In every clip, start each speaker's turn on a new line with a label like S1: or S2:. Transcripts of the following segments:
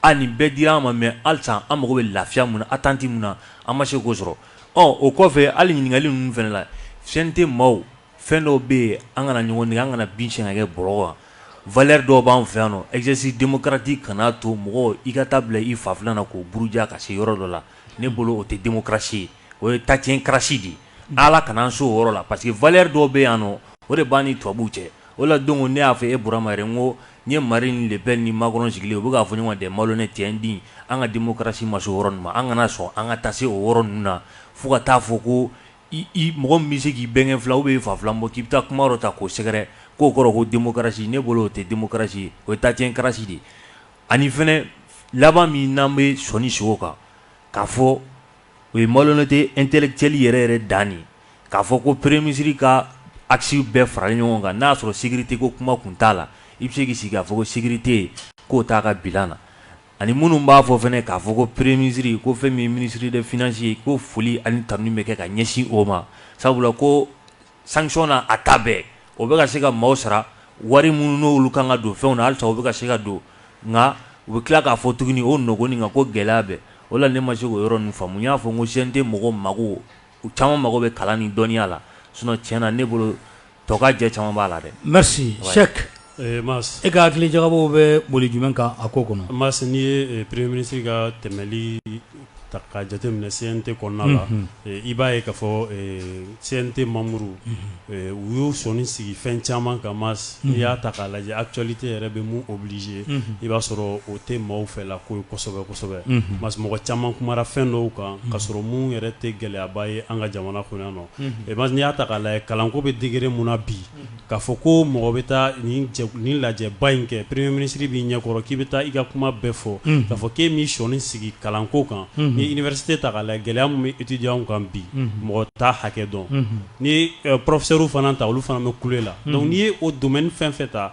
S1: A nin bɛɛ dira an ma mais halisa an mago bɛ lafiya mun na attente mun na an ma se k'o sɔrɔ ɔ o kɔfɛ hali ɲininkali ninnu fana la CNT maaw fɛn dɔw bɛ yen an kana ɲɔgɔn nɛgɛn an kana bin sɛnɛkɛ bɔrɔ kan valeur dɔw b'an fɛ yan nɔ exercice démocratique kana to mɔgɔ i ka taa bila i fa filan na k'o buruja ka se yɔrɔ dɔ la ne bolo o tɛ démocratie ye o ye tatiɲɛkrasi de ye Ala kana an se o yɔrɔ la parce que valeur dɔw bɛ yan nɔ o de b'an ni tubabuw cɛ o la donc ne y'a fɔ e Burama n ko n ye Marine Le Pen ni Macron sigilen u bɛ k'a fɔ ɲɔgɔn de malhonnête tiɲɛ di an ka démocratie ma se o yɔrɔ ma an kana sɔn an ka taa se o yɔrɔ ninnu na fo ka t'a fɔ ko mɔgɔ min bɛ se k'i bɛnkɛ filan ou bien i fa filan bɔ k'i bɛ taa kuma yɔrɔ ta k'o sɛgɛrɛ k'o kɔrɔ ko démocratie ne bolo o tɛ démocratie o ye tatiɲɛkrasi de ye ani fana laban min n'an bɛ sɔnni sigi o kan k'a fɔ o ye malhonnêteté intellectuelle yɛrɛ yɛrɛ dan de ye k'a fɔ ko premier ministre ka axe bɛɛ faralen ɲɔgɔn kan n'a y'a sɔrɔ sécurité ko kuma tun t'a la i bɛ se k'i sigi k'a fɔ ko sécurité k'o t'a ka bilan na ani minnu b'a fɔ fana k'a fɔ ko premier ministre ko fɛn min ye ministre des finances ye ko foli ani tanuni bɛ kɛ ka ɲɛsin o ma sabula ko sanction na a ta bɛɛ o bɛ ka se ka maaw sara wari minnu n'olu kan ka don fɛnw na halisa o bɛ ka se ka don nka u bɛ tila k'a fɔ tuguni o nɔgɔn nin kan ko gɛlɛya bɛ o la ne ma se k'o yɔrɔ ninnu faamu n y'a fɔ n ko CNT mɔgɔw mago u caman mago bɛ kalan ni dɔnniya la sinon tiɲɛ na ne bolo tɔkajɛ caman b'a la dɛ. Merci Sɛki.
S2: Ɛɛ Mas e
S3: ka hakili
S2: jagabɔ bɛ boli jumɛn kan a ko kɔnɔ? Mas n'i ye
S3: premier ministre ka tɛmɛli ta k'a jateminɛ CNT kɔnɔna la, unhun, i b'a ye k'a fɔ CNT membres ɛɛ u y'u sɔnni sigi fɛn caman kan Mas, unhun, n'i y'a ta k'a lajɛ actualité yɛrɛ bɛ min obliger unhun, i b'a sɔrɔ o tɛ maaw fɛla ko ye kosɛbɛ kosɛbɛ, unhun, Mas mɔgɔ caman kumara fɛn dɔw kan k'a sɔrɔ minnu yɛrɛ tɛ gɛlɛyaba ye an ka jamana kɔnɔ yan nɔ, unhun, Mas n'i y'a ta k'a lajɛ kalanko bɛ degré min na bi K'a fɔ ko mɔgɔ bɛ taa nin lajɛba in kɛ premier ministre b'i ɲɛkɔrɔ k'i bɛ taa i ka kuma bɛɛ fɔ k'a fɔ k'e min sɔនsigi kalanko kan n'i ye université ta k'a lajɛ gɛlɛya min bɛ étudiants kan bi mɔgɔ t'a hakɛ dɔn n'i ye professeurw fana ta olu fana bɛ kule la donc n'i ye o domaine fɛn fɛn ta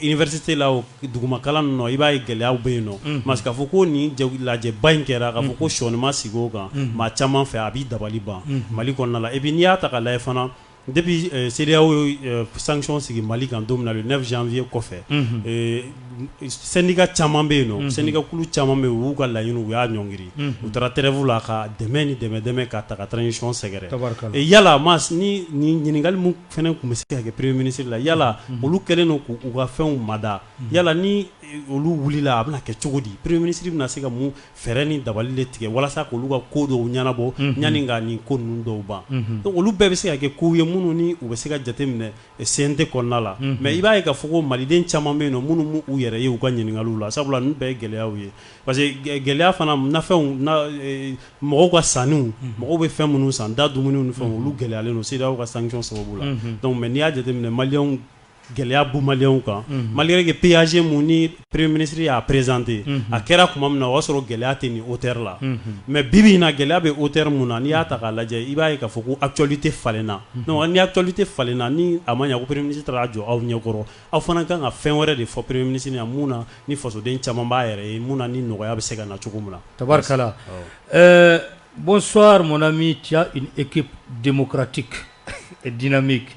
S3: université la o duguma kalan nɔ i b'a ye gɛlɛyaw bɛ yen nɔ Mas k'a fɔ ko nin lajɛba in kɛra k'a fɔ ko sɔnni ma sigi o kan maa caman fɛ a b'i dabali ban mali kɔnɔna la et puis n'i y'a ta k'a lajɛ fana Depuis CEDEAO ye sanction sigi mali kan don min na le neuf janvier kɔfɛ syndicat caman bɛ yen nɔ syndicat kulu caman bɛ yen u y'u ka laɲini u y'a ɲɔngiri u taara trêve la ka dɛmɛ ni dɛmɛ dɛmɛ ka taa ka transition sɛgɛrɛ yala Mas nin ɲininkali min fana tun bɛ se ka kɛ premier ministre la yala olu kɛlen don k'u ka fɛnw mada yala ni olu wulila a bɛna kɛ cogo di premier ministre bɛna se ka mun fɛɛrɛ ni dabali de tigɛ walasa k'olu ka ko dɔw ɲɛnabɔ yanni ka nin ko ninnu dɔw ban donc olu bɛɛ bɛ se ka kɛ kow ye minnu ni u bɛ se ka jateminɛ CNT kɔnɔna la mais i b'a ye k'a fɔ ko maliden caman bɛ yen nɔ minnu m'u yɛrɛ ye u ka ɲininkaliw la sabula ninnu bɛɛ ye gɛlɛyaw ye parce que gɛlɛya fana nafɛnw mɔgɔw ka sanniw mɔgɔw bɛ fɛn minnu san da dumuniw ni fɛnw olu gɛlɛyalen don CEDEAO ka sanction sababu la donc mais n'i y'a jateminɛ maliyɛnw gɛlɛya bɛ maliyɛnw kan malgré que PAG mun ni premier ministre y'a présenté a kɛra tuma min na o y'a sɔrɔ gɛlɛya tɛ nin hauteur la mais bi bi in na gɛlɛya bɛ hauteur min na n'i y'a ta k'a lajɛ i b'a ye k'a fɔ ko actualité falenna donc ni actualité falenna ni a ma ɲɛ ko premier ministre taara a jɔ aw ɲɛkɔrɔ aw fana ka kan ka fɛn wɛrɛ de fɔ premier ministre ɲɛna mun na ni fasoden caman b'a yɛrɛ ye mun na ni nɔgɔya bɛ se ka na cogo min na tabarikala
S2: ɛɛ bonsoir mon ami tu as une équipe démocratique et dynamique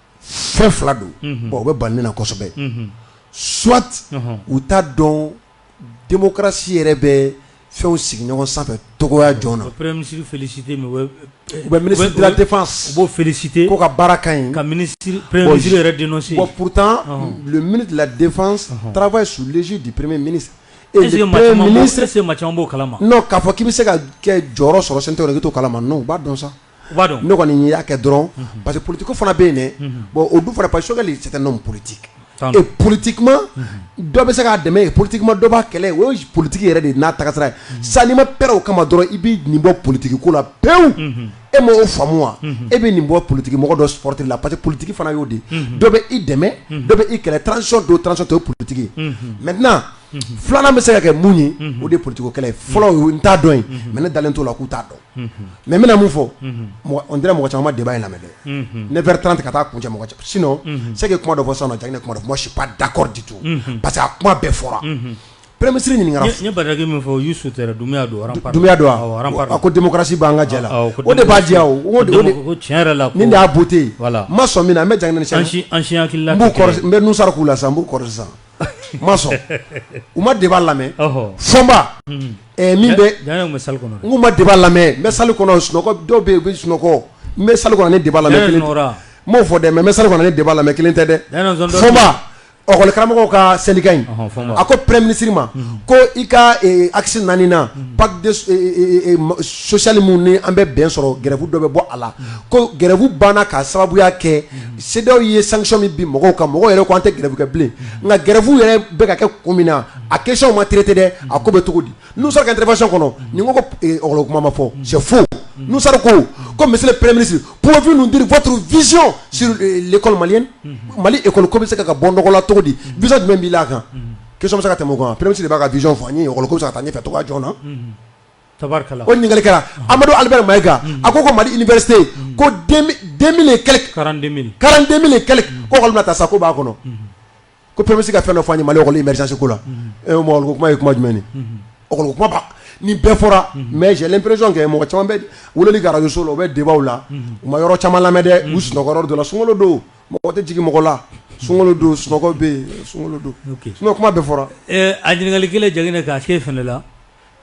S4: fɛn fila don bon o bɛ bali ne na kosɛbɛ soit u t'a dɔn démocratie yɛrɛ bɛ fɛnw sigi ɲɔgɔn sanfɛ cogoya jɔn na, u bɛ premier ministre
S2: féliciter mais u bɛ
S4: ministre de la défense u b'o féliciter k'o
S2: ka baara ka ɲi,
S4: ka premier
S2: ministre yɛrɛ dénoncer bon
S4: pourtant le ministre de la défense travaille sous l'égide du premier ministre
S2: est-ce que maa caman b'o kalama? non k'a fɔ k'i bɛ se ka
S4: jɔyɔrɔ sɔrɔ CNT kɔnɔ k'i t'o kalama non u b'a dɔn sa B'a dɔn ne kɔni y'a kɛ dɔrɔn parce que politique fana bɛ yen bon o dun fana parce que Choguel c'est un homme politique politiquement dɔ bɛ se k'a dɛmɛ politiquement dɔ b'a kɛlɛ o ye politique yɛrɛ de n'a tagasira ye sa n'i ma prêt o kama dɔrɔn i bɛ nin bɔ politique ko la pewu e ma o faamu wa e bɛ nin bɔ politique mɔgɔ dɔ supporter la parce que politique fana y'o de dɔ bɛ i dɛmɛ dɔ bɛ i kɛlɛ transition don transition t'o politique maintenant filanan bɛ se ka kɛ mun ye o de ye politique ko kɛlɛ fɔlɔ ye u t'a dɔn mais ne dalen t'a la k'u t'a dɔn mɛ n bɛna mun fɔ n tɛna mɔgɔ caman de in lamɛn dɛ ne bɛ tanranti ka taa kun cɛ mɔgɔ sin se kuma dɔ fɔ sa ja ne kuma si dakɔrɔ ditu parce que a kuma bɛɛ fɔra pere misisiriri ɲininkakaki min fɔ y'
S2: su dunya don
S4: a ko densi b' an ka jɛ o de b'a diya tiɲɛ yɛrɛ la
S2: n y'a bu ten
S4: ma sɔn min an bɛ jan n
S2: bɛ n sara
S4: k'u la san n b'u kɔrɔ sisan ma sɔn u ma débat lamɛn Fomba min bɛ n k'u ma débat lamɛn n bɛ salle kɔnɔ sunɔgɔ dɔw bɛ u bɛ sunɔgɔ n bɛ salle kɔnɔ ni débat lamɛn kelen n m'o fɔ dɛ mais n bɛ salle ni débat lamɛn kelen tɛ dɛ Fomba ekɔli karamɔgɔw ka syndicat in a ko premier ministre ma ko i ka axe naani na pacte social min ni an bɛ bɛn sɔrɔ grève dɔ bɛ bɔ a la ko grève banna ka sababuya kɛ CEDEAO ye sanction min bin mɔgɔw kan mɔgɔw yɛrɛ ko an tɛ grève kɛ bilen nka grève yɛrɛ bɛ ka kɛ kun min na a question ma traité dɛ a ko bɛ cogo di Nouhoum Sarr ka intervention kɔnɔ n'i ko ko école kuma ma fɔ c'est faux Nouhoum Sarr ko ko monsieur le premier ministre pouvez vous nous dire votre vision sur l'école malienne Mali école ko bɛ se ka bɔ nɔgɔ la cogo di vision jumɛn b'i la a kan question bɛ se ka tɛmɛ o kan wa premier ministre de b'a ka vision fɔ an ye école ko bɛ se ka taa ɲɛfɛ cogoya jɔn na.
S2: o ɲininkali kɛra
S4: amadu ali mayika a ko ko mali i bɛse ko walima taa sa ko b'a kɔnɔ ko pe bɛ se ka fɛn dɔ fɔ malirizseko la kuma ye kuma jumɛn ni bɛɛ fɔra mɛ jɛlen perez kɛ mɔgɔ caman bɛ wele gariso la o bɛ debaw la u ma yɔrɔ caman lamɛn dɛ u sunɔgɔ dɔ la sunkolo don mɔgɔ tɛ jigin mɔgɔ la sun don sunɔgɔ bɛ yen sun don kuma bɛ fɔra a ɲininkakali kelen
S2: jagin k'a se f la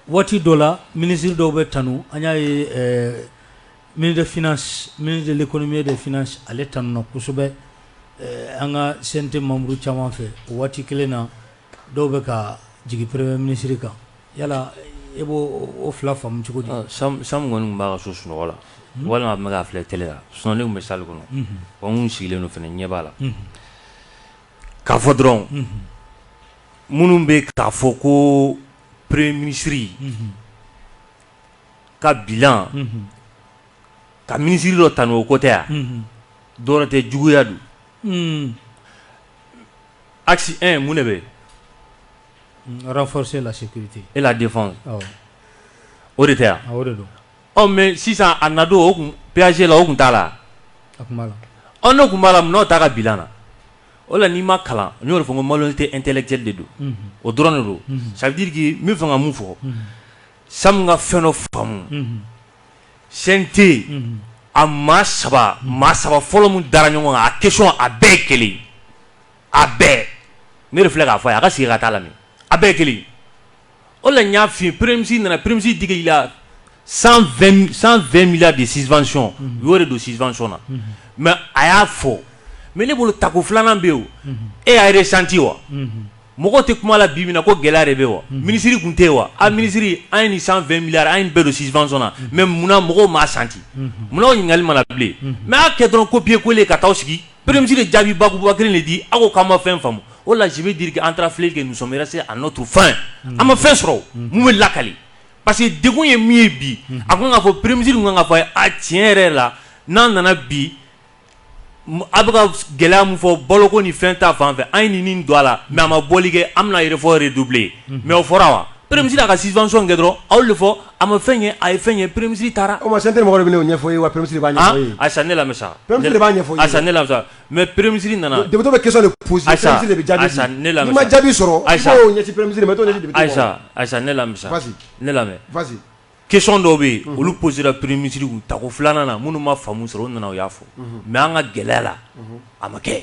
S2: Waati dɔ la minisiri dɔw bɛ tanu an y'a ye ministre de l'économie et des finances ale tanuna kosɛbɛ an ka CNT membre caman fɛ o waati kelen na dɔw bɛ ka jigin premier ministre kan yala e b'o fila faamu cogo di Sam kɔni tun
S1: b'a ka so sunɔgɔ la walima a tun bɛ k'a filɛ télé la sinon ne tun bɛ salle kɔnɔ anw sigilen don fana ɲɛ b'a la k'a fɔ dɔrɔn minnu bɛ k'a fɔ ko peree minisiriri ka bi ka minisiriri dɔ tan o ko tɛ yan dɔw tɛ juguyaya don a mun de bɛ fɔsi
S2: lase e la de o
S1: de tɛ yan anw
S2: mɛ sisan
S1: a nadon o tun pzse la o tun t'a la
S2: tun b'a la n'o ta
S1: ka bila na o la n'i ma kalan n y'o de fɔ ko malhonnêteté intellectuelle de don o dɔrɔn de don ça veut dire que n bɛ fɛ ka min fɔ Sam ka fɛn dɔ faamu CNT yen a maa saba maa saba fɔlɔ min dara ɲɔgɔn kan a question a bɛɛ kelen a bɛɛ ne de filɛ k'a fɔ a y'a ka sigi ka taa lamɛn a bɛɛ kelen o la y'a fi peresi nana peresi digi i la san mi de siccɔn y' de don siccɔn na mɛ a y'a fɔ mɛ ne bolo takɔ filanan bɛ yen e y'a yɛrɛ santi wa mɔgɔ tɛ kuma la bi minɛ ko gɛlɛya de bɛ wa minisiriri tun tɛ yen wa a minisiriri an ye ni san mi an bɛɛ don siccɔn na mɛ munna mɔgɔw maa santi munna ɲininkakali mana bilen mɛ y'a kɛ dɔrɔn ko biye ko ka taa sigi Premier ministre de jaabi bakuruba kelen de di aw ko k'an ma fɛn faamu o la je veux dire que an taara filɛli kɛ nous sommes restés à notre faim an ma fɛn sɔrɔ min bɛ lakali parce que degun ye min ye bi a ko k'a fɔ premier ministre kun kan k'a fɔ a tiɲɛ yɛrɛ la n'an nana bi a bɛ ka gɛlɛya min fɔ baloko ni fɛn ta fan fɛ an ye nin don a la mais a ma bɔli kɛ an bɛna effort redoubler mais o fɔra wa Peresi a ka sisansɔn kɛ dɔrɔn aw de fɔ a ma fɛn ye a ye fɛn ye peresi taara o ma se tɛ mɔgɔ bɛ ɲɛfɔ
S4: ye wa pere asa ne lamɛnmisa
S1: b'a ɲɛfɔ asa
S4: ne lamisa mɛ
S1: peremisiri nana de bɛ kisa
S4: jaabi
S1: sɔrɔ ayisa
S4: ayisa ne lamɛnmisa
S1: ne lamɛn kesɔnon
S4: dɔw bɛ yen
S1: olu psira pere misisiriri u ta ko filanan na minnu ma famu sɔrɔ u nana u y'a fɔ mɛ an ka gɛlɛya la a ma kɛ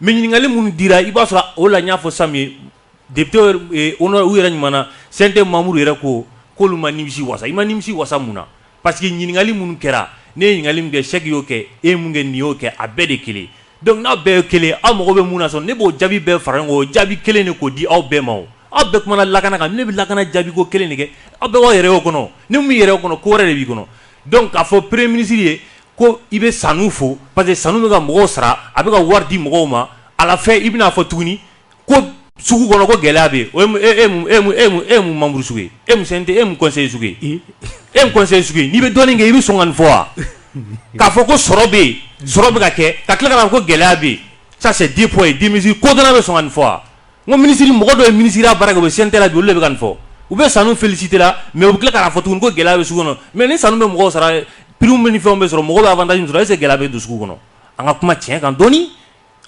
S1: Mais ɲininkali minnu dira i b'a sɔrɔ o la n y'a fɔ Sam ye députéw yɛrɛ kumana CNT membre yɛrɛ ko k'olu ma nimisi wasa i ma nimisi wasa mun na parce que ɲininkali minnu kɛra ne ye ɲininkakali kɛ sɛ y'o kɛ e mun kɛ nin y'o kɛ a bɛɛ de kelen donc n'a bɛɛ ye kelen aw mago bɛ mun na sɔn ne b'o jaabi bɛɛ fara ɲɔgɔn kan o jaabi kelen de k'o di aw bɛɛ ma aw bɛɛ kumana lakana kan ne bɛ lakana jaabi ko kelen de kɛ aw bɛɛ b'aw yɛrɛ y'o kɔnɔ n'i m'i yɛrɛ y'o kɔnɔ ko wɛrɛ de b'i kɔnɔ Dɔnku k'a fɔ peree minisiriri ye ko i bɛ sanu fo pa que sanu bɛ ka mɔgɔw sara a bɛ ka wari di mɔgɔw ma a fɛ i bɛna'a fɔ tuguni ko sugu kɔnɔ ko gɛlɛya bɛ e mun mamuru sugu e e n'i bɛ dɔni kɛ i bɛ sɔn ka nin fɔ wa k'a fɔ ko sɔrɔ bɛ yen sɔrɔ bɛ ka kɛ ka tila ko gɛlɛya bɛ yen sa di fɔ ye dimi ko bɛ sɔn ka nin fɔ wa N ko minisiri mɔgɔ dɔ ye minisiri ya baara kɛ u bɛ CNT la bi olu de bɛ ka nin fɔ u bɛ Sanou féliciter la mais u bɛ tila k'a fɔ tuguni ko gɛlɛya bɛ sugu kɔnɔ mais ni Sanou bɛ mɔgɔw sara prime bɛ ni fɛnw bɛ sɔrɔ mɔgɔw bɛ avantage min sɔrɔ est ce que gɛlɛya bɛ don sugu kɔnɔ an ka kuma tiɲɛ kan dɔɔni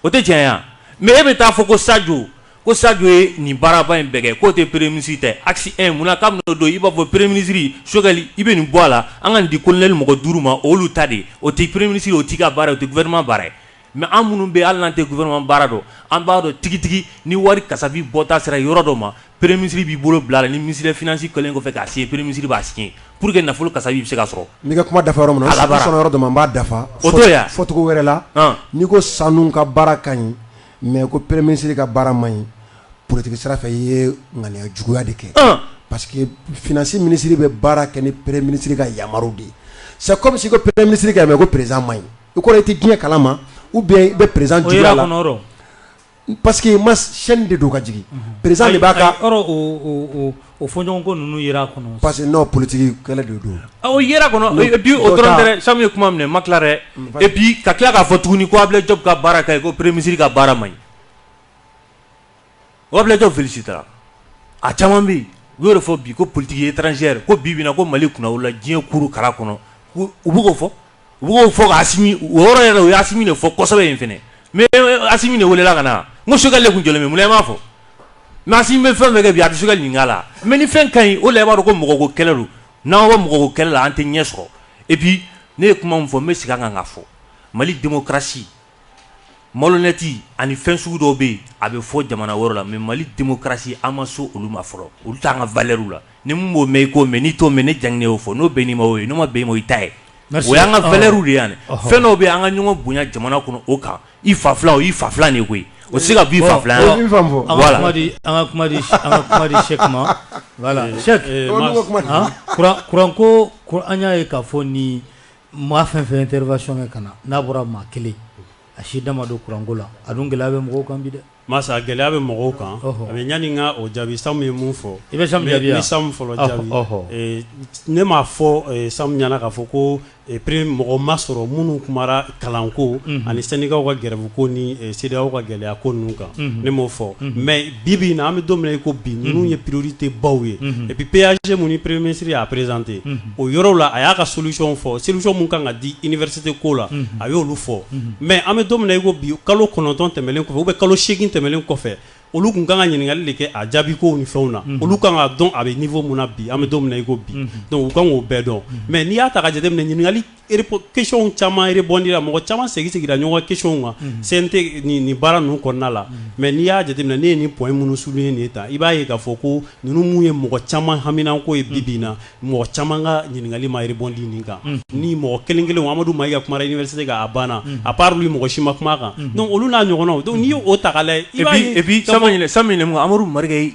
S1: o tɛ tiɲɛ ye wa mais e bɛ taa fɔ ko Sadio ko Sadio ye nin baaraba in bɛɛ kɛ k'o tɛ premier minisiri ta ye axe 1 mun na k'a bɛn'o don i b'a fɔ premier minisiri Choguel i bɛ nin bɔ a la an ka nin di colonel mɔgɔ duuru ma o y'olu ta de ye o tɛ premier minisiri ye o t'i ka baara ye o tɛ gouvernement baara ye Mais an minnu bɛ hali n'an tɛ gouvernement baara dɔn an b'a dɔn tigitigi ni wari kasabi bɔta sera yɔrɔ dɔ ma premier minisiri b'i bolo bila la ni minisiri finance kɛlen kɔfɛ k'a signer premier minisiri b'a signer pour que nafolo kasabi bɛ se ka sɔrɔ n'i ka kuma dafa yɔrɔ min
S4: na yɔrɔ dɔ n b'a dafa o fɔcogo
S1: wɛrɛ
S4: la n'i ko Sanou ka baara ka ɲi mais ko premier minisiri ka baara man ɲi politique sira fɛ i ye ŋaniya juguya de kɛ parce que finance minisiri bɛ baara kɛ ni pere minisiriri ka yama de ye sa kɔmimi se ko pere minisiri ka mɛ ko perezsan ma ɲi i kɔrɔ i tɛ diɲɛ kala ma u bɛ i bɛ perez la pa que i ma sɛni de don ka jigin perez de b'a ka o
S2: fɔ ɲɔgɔn ko ninnu kɔnɔ parce que n'o politigi
S4: kɛlɛ de
S1: don sa ye kuma minɛ ma tila dɛ e bi ka tila k'a fɔ tuguni' a jɔ ka baara ta ko perereme misisiriri ka baara ma ɲi Wabijɔ vsi taara a caman bɛ u y' fɔ bi ko politigi ye tranzɛri ko bi ko mali kunna la diɲɛ kuru kara kɔnɔ u bɛ'o fɔ u b'o fɔ yɔrɔ yɛrɛ u y'a min de fɔ kɔsɔ in fana min de welela ka na n sokɛkali tun jɔn minɛ b'a fɔ n'a si bɛ fɛn kɛ bi a bɛ sokɛka ɲininka la mɛ ni fɛn ka ɲi o la b'a ko mɔgɔ ko kɛlɛ don n'an ka mɔgɔ kɛlɛ la an tɛ ɲɛ sɔrɔ epi ne ye kuma fɔ n bɛ segin kan ka fɔ mali denmusosi Malhonnête ani fɛn sugu dɔw bɛ yen a bɛ fɔ jamana wɛrɛ la mais Mali démocratie an ma so olu ma fɔlɔ olu t'an ka valeurw la ni min b'o mɛn i k'o mɛn n'i t'o mɛn ne jan y'o fɔ n'o bɛnn'i ma o ye n'o ma bɛn i ma o y'i ta ye o y'an ka valeurw de ye yan fɛn dɔw bɛ yen an ka ɲɔgɔn bonya jamana kɔnɔ o kan i fa filan o y'i fa filan de ye koyi o tɛ se ka b'i fa filan an ka
S2: kuma di Cheikh ma voilà Cheikh kuranko an y'a ye k'a fɔ ni Maa fɛn fɛn intervention kɛ ka na n'a bɔra maa kelen a si da ma don kuranko la a dun gɛlɛya bɛ mɔgɔw kan bi dɛ masa gɛlɛya bɛ
S3: mɔgɔw kan a bɛ ɲini ka o jaabi Samu ye mun fɔ i bɛ
S2: Samu fɔlɔ jaabi
S3: ne m'a fɔ Samu ɲɛna k'a fɔ ko mɔgɔ ma sɔrɔ minnu kumara kalanko ani syndicat ka grève ko ni CEDEAO ka gɛlɛya ko ninnu kan ne m'o fɔ mais bi-bi in na an bɛ don min na i ko bi ninnu ye priorité baw ye et puis PAG min ni premier ministre y'a présenté o yɔrɔw la a y'a ka solution fɔ solution min kan ka di université ko la a y'olu fɔ mais an bɛ don min na i ko bi kalo kɔnɔntɔn tɛmɛnen kɔfɛ ou bien kalo segin tɛmɛnen kɔfɛ olu tun kan ka ɲininkakali de kɛ a jaabi ko ni fɛnw na olu kan ka dɔn a bɛ niveau mun na bi an bɛ don min na i ko bi donc u kan k'o bɛɛ dɔn mais n'i y'a ta ka jate ɲininkakali caman rebondira mɔgɔ caman segin-segira ɲɔgɔn question kan CNT nin baara ninnu kɔnɔna la mais n'i y'a jateminɛ ne ye nin point minnu souligner nin ye tan i b'a ye k'a fɔ ko ninnu minnu ye mɔgɔ caman haminanko ye bi-bi in na mɔgɔ caman ka ɲininkali ma rebondi nin kan ni mɔgɔ kelen-kelenw Amadu Mayiga kumara université kan a banna à part lui mɔgɔ si ma kuma a kan donc olu n'a ɲɔgɔnnaw donc n'i y'o ta k'a lajɛ i b'a ye et
S1: puis
S3: et
S1: puis Amadu Mayiga ye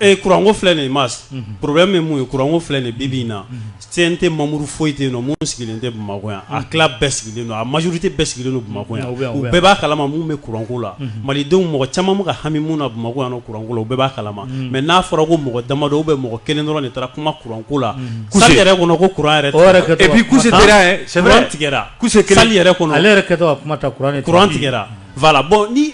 S4: Ee kuranko
S3: filɛ nin Mas problème ye mun ye kuranko filɛ nin bi-bi in na CNT membre foyi tɛ yen nɔ min sigilen tɛ bamakɔ yan a tila bɛɛ sigilen don a majorité bɛɛ sigilen don bamakɔ yan u bɛɛ b'a kalama mun bɛ kuranko la malidenw mɔgɔ caman bɛ ka hami mun na bamakɔ yan kuranko la u bɛɛ b'a kalama mais n'a fɔra ko mɔgɔ damadɔ ou bien mɔgɔ kelen dɔrɔn de taara kuma kuranko la salle yɛrɛ kɔnɔ ko kuran yɛrɛ yɛrɛ
S2: tigɛ kuran tigɛ
S3: Voilà bon ni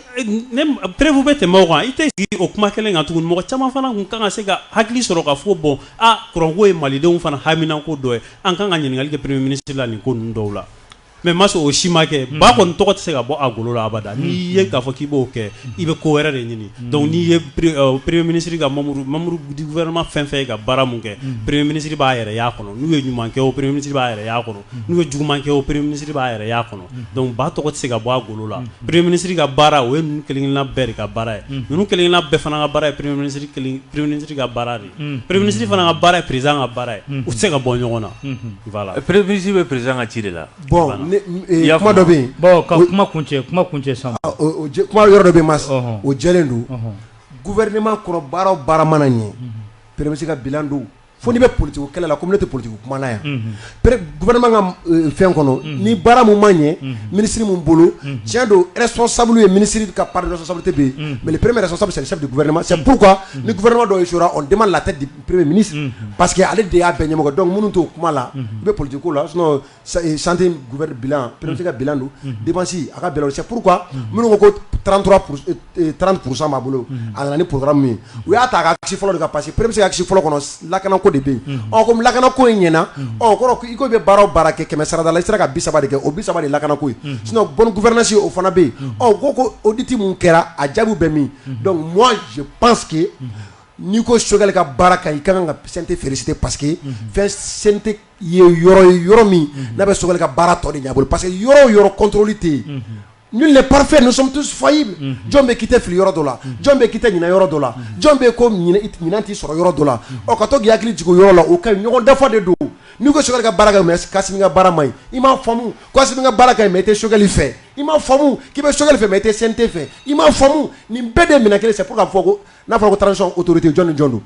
S3: ne preuve bɛ tɛmɛ o kan i tɛ sigi o kuma kelen kan tuguni mɔgɔ caman fana tun ka kan ka se ka hakili sɔrɔ ka fɔ bon aa kuranko ye malidenw fana haminanko dɔ ye an ka kan ka ɲininkali kɛ premier ministre la nin ko ninnu dɔw la mais Mas o si ma kɛ ba kɔni tɔgɔ tɛ se ka bɔ a golo la abada n'i ye k'a fɔ k'i b'o kɛ i bɛ ko wɛrɛ de ɲini donc n'i ye premier ministre ka membre membre du gouvernement fɛn fɛn ye ka baara mun kɛ premier ministre b'a yɛrɛ y'a kɔnɔ n'u ye ɲuman kɛ o premier ministre b'a yɛrɛ y'a kɔnɔ n'u ye juguman kɛ o premier ministre b'a yɛrɛ y'a kɔnɔ donc ba tɔgɔ tɛ se ka bɔ a golo la premier ministre ka baara o ye ninnu kelen-kelenna bɛɛ de ka baara ye ninnu kelen-kelenna bɛɛ fana ka baara ye premier ministre kelen premier ministre ka baara de ye premier ministre fana ka baara ye président ka baara ye u tɛ se ka bɔ ɲɔgɔn na voilà premier ministre bɛ président
S1: ka ci de la bon ne i
S4: y'a faamu kuma dɔ bɛ yen bon ka kuma kuncɛ
S2: kuma kuncɛ sisan o o jɛ kuma yɔrɔ dɔ bɛ
S4: yen Mas ɔhɔn o jɛlen don gouvernement kɔnɔ baara o baara mana ɲɛ premier ministre ka bilan don Fo n'i bɛ politigi kɛlɛ la ko ne tɛ politigi kumala yan ka fɛn kɔnɔ ni baara min man ɲɛ minisiri min bolo cɛn don sɔ sabu ye minisiri ka pa sɔ sababu bɛ yen mɛ perere sɔ bɛ sa gma sa ni gma dɔ o de ma la perere mini pa que ale de y'a bɛn ɲɛmɔgɔ dɔn minnu to o kuma la i bɛ politigi la sante gubali bila porote ka bila don debasi a ka bɛn se pur minnu ko koranran kurusa b'a bolo a nana ni porokarara min ye u y'a ta kasi fɔlɔ de ka parce que perese se kasi fɔlɔ kɔnɔ lakana ko de bɛ yen ɔ ko lakana ko in ɲɛna ɔ kɔrɔ i ko bɛ baara baara kɛ kɛmɛ sarada i sera ka bi saba de kɛ o bi saba de lakana ko s bɔnfɛsi o fana bɛ yen ɔ ko ko oditi min kɛra a jaabibu bɛ min mɔnsi pansseke n'i ko sokɛkali ka baara kan i ka kan ka sante feereerete paseke fɛnte ye yɔrɔ ye yɔrɔ min n'a bɛ soli ka baara tɔ de bolo parce que yɔrɔ yɔrɔ kɔntɔli tɛ yen ni le pafe fayi jɔn bɛ ki fili yɔrɔ dɔ la jɔn bɛ ki ɲinin yɔrɔ dɔ la jɔn bɛ ko ɲinin tɛ sɔrɔ yɔrɔ dɔ la o ka to hakili jigin yɔrɔ la o ka ɲɔgɔn dafa de don n'u ka sokɛ ka baara ka baara ma i ma faamumu ka baara ka i tɛ sokɛkali fɛ i ma famu k'i bɛ sokɛli fɛ i tɛ sen tɛ fɛ i ma famu nin bɛɛ de minɛ kelen se fo ka fɔ n'a fɔra ko taa sɔn otote jɔn ni jɔn don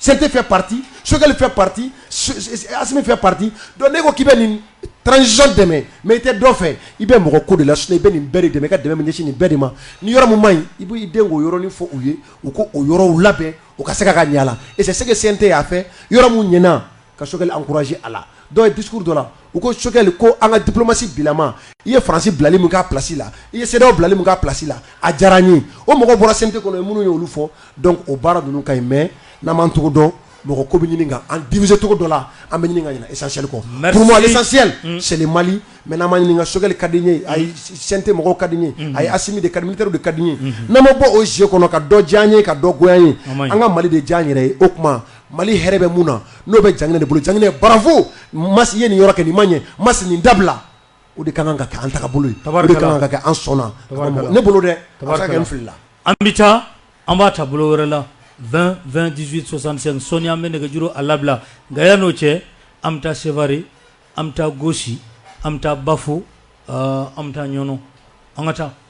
S4: CNT fait partie Choguel fait partie Assimi fait partie donc n'e ko k'i bɛ nin transition dɛmɛ mais i tɛ dɔ fɛ i bɛ mɔgɔ ko de la sinon i bɛ nin bɛɛ de dɛmɛ i ka dɛmɛ min ɲɛsin nin bɛɛ de ma ni yɔrɔ min man ɲi i b'i den k'o yɔrɔnin fɔ u ye u k'o yɔrɔ labɛn u ka se ka ka ɲɛ a la et c'est ce que CNT a fait yɔrɔ min ɲɛna ka Choguel encourager a la dɔw ye discours dɔ la u ko Choguel ko an ka diplomatie bilama i ye Faransi bilali min k'a place la i ye CEDEAO bilali min k'a place la a diyara n ye o mɔgɔ bɔra CNT kɔnɔ yen minnu ye olu fɔ donc o baara ninnu ka ɲi mais n'an m'an cogo dɔn mɔgɔ ko bɛ ɲini k'an diviser cogo dɔ la an bɛ ɲini ka ɲina essentiel kɔ pour moi l'essentiel c'est le Mali mais n'an m'a ɲini ka Choguel ka di n ye ayi CNT mɔgɔw ka di n ye ayi Assimi de ka di militaire de ka di n ye n'an ma bɔ o jeu kɔnɔ ka dɔ diya n ye ka dɔ goya n ye an ka Mali de diya n yɛrɛ ye o tuma Mali hɛrɛ bɛ mun na n'o bɛ Janginɛ de bolo Janginɛ bravo Masi ye nin yɔrɔ kɛ nin ma ɲɛ Masi nin dabila o de ka kan ka kɛ an taabolo ye o de ka kan ka kɛ an sɔnna ne bolo dɛ a bɛ se ka kɛ n filila an bɛ taa
S2: an b'a ta bolo wɛrɛ la vingt vingt dix-huit soixante-cinq sɔɔni an bɛ nɛgɛjuru a labila nka yan n'o cɛ an bɛ taa Sevare an bɛ taa Gosi an bɛ taa Bafo an bɛ taa Ɲɔnɔ an ka taa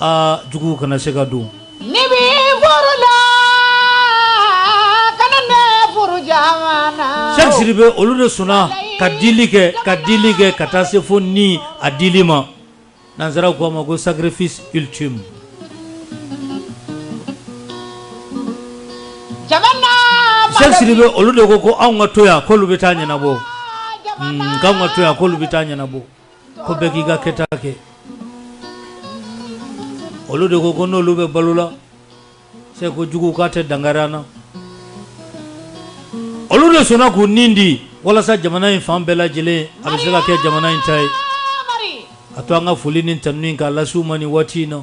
S2: Aa juguw kana se ka don ne
S5: bɛ furu la ka ne furu siri bɛ olu
S2: de sɔnna ka dili kɛ ka dili kɛ ka taa se fo ni a dili ma nansaraw ko a ma ko sacrifice ultime siri bɛ olu de ko ko anw ka to yan k'olu bɛ taa ɲɛnabɔ anw ka to yan k'olu bɛ taa ɲɛnabɔ ko bɛɛ k'i ka kɛta kɛ olu de ko ko n'olu bɛ balo la Cheikh kojugu k'a tɛ dankari an na olu de sɔnna k'u nin di walasa jamana in fan bɛɛ lajɛlen a bɛ se ka kɛ jamana in ta ye a to an ka foli ni tanu in k'a lase u ma ni waati in na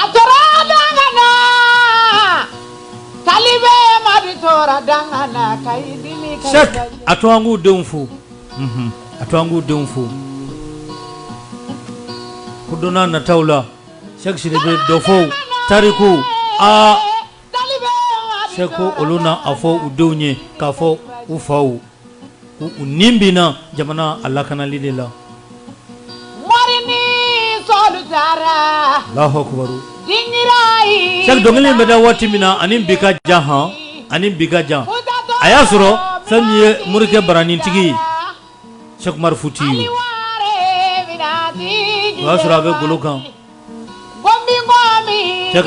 S2: a tora danga na kali bɛ madu tora danga na ka i dimi ka Cheikh a to an k'u denw fo unhun a to an k'u denw fo ko don n'a nataw la Cheikh Sidibe dɔ fɔ u tarikuw aa Cheikh ko olu na a fɔ u denw ye k'a fɔ u faw u nin binna jamana a lakanali de la Allahu akbar Cheikh dɔnkili bɛ da waati min na ani bi ka jan han ani bi ka jan a y'a sɔrɔ fɛn min ye morikɛ baranintigi Cheikh Umar Futi ye o y'a sɔrɔ a bɛ golo kan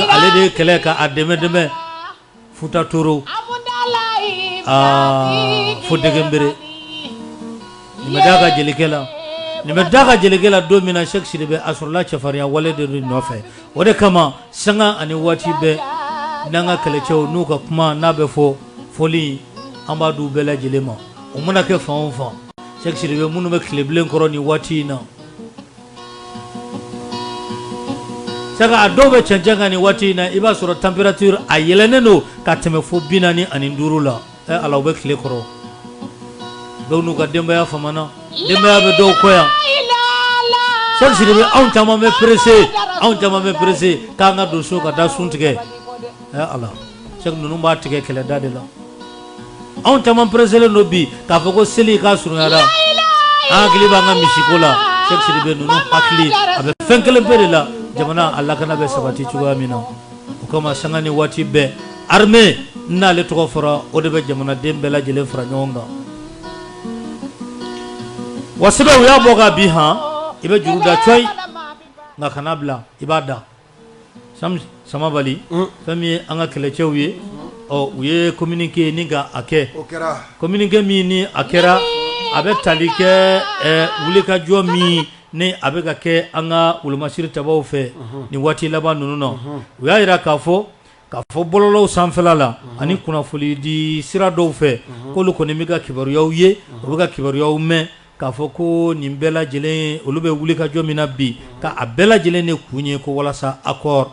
S2: ale de ye kɛlɛ ka a dɛmɛ dɛmɛ Futa Toro fo Dɛgɛnbere nin bɛ da ka jelikɛ la nin bɛ da ka jelikɛ la don min na Cheikh Sidibe a sɔrɔla cɛfarinya wale de nɔfɛ o de kama sanga ani waati bɛɛ n'an ka kɛlɛcɛw n'u ka kuma n'a bɛ fɔ foli an b'a d'u bɛɛ lajɛlen ma o mana kɛ fan o fan Cheikh Sidibe minnu bɛ tilebilen kɔrɔ ni waati in na Cheikh a dɔw bɛ cɛncɛn kan ni waati in na i b'a sɔrɔ température a yɛlɛnnen don ka tɛmɛ fo bi naani ani duuru la ɛ ala u bɛ tile kɔrɔ dɔw n'u ka denbaya famana denbaya bɛ dɔw kɔ yan Cheikh Sidibe anw caman bɛ pressé anw caman bɛ pressé k'an ka don so ka taa sun tigɛ ala Cheikh ninnu b'a tigɛ kɛlɛda de la anw caman pereselen don bi k'a fɔ ko seli k'a surunyara an hakili b'an ka misiko la Cheikh Sidibe ninnu hakili a bɛ fɛn kelen pe de la jamana a lakana bɛ sabati cogoya min na o kama sanga ni waati bɛɛ armée n'ale tɔgɔ fɔra o de bɛ jamanaden bɛɛ lajɛlen fara ɲɔgɔn kan wa sɛbɛ u y'a bɔ ka bin han i bɛ juru da cɔyi nka kana bila i b'a da Samabali fɛn min ye an ka kɛlɛcɛw ye u ye communiqué ni ka a kɛ communiqué min ni a kɛra a bɛ tali kɛ wulikajɔ min ni a bɛ ka kɛ an ka wolomasiri tabaw fɛ ni waati laban ninnu na u y'a jira k'a fɔ k'a fɔ bɔlɔlɔw sanfɛla la ani kunnafoni di sira dɔw fɛ k'olu kɔni bɛ ka kibaruyaw ye u bɛ ka kibaruyaw mɛn k'a fɔ ko nin bɛɛ lajɛlen olu bɛ wulikajɔ min na bi ka a bɛɛ lajɛlen de kun ye ko walasa accord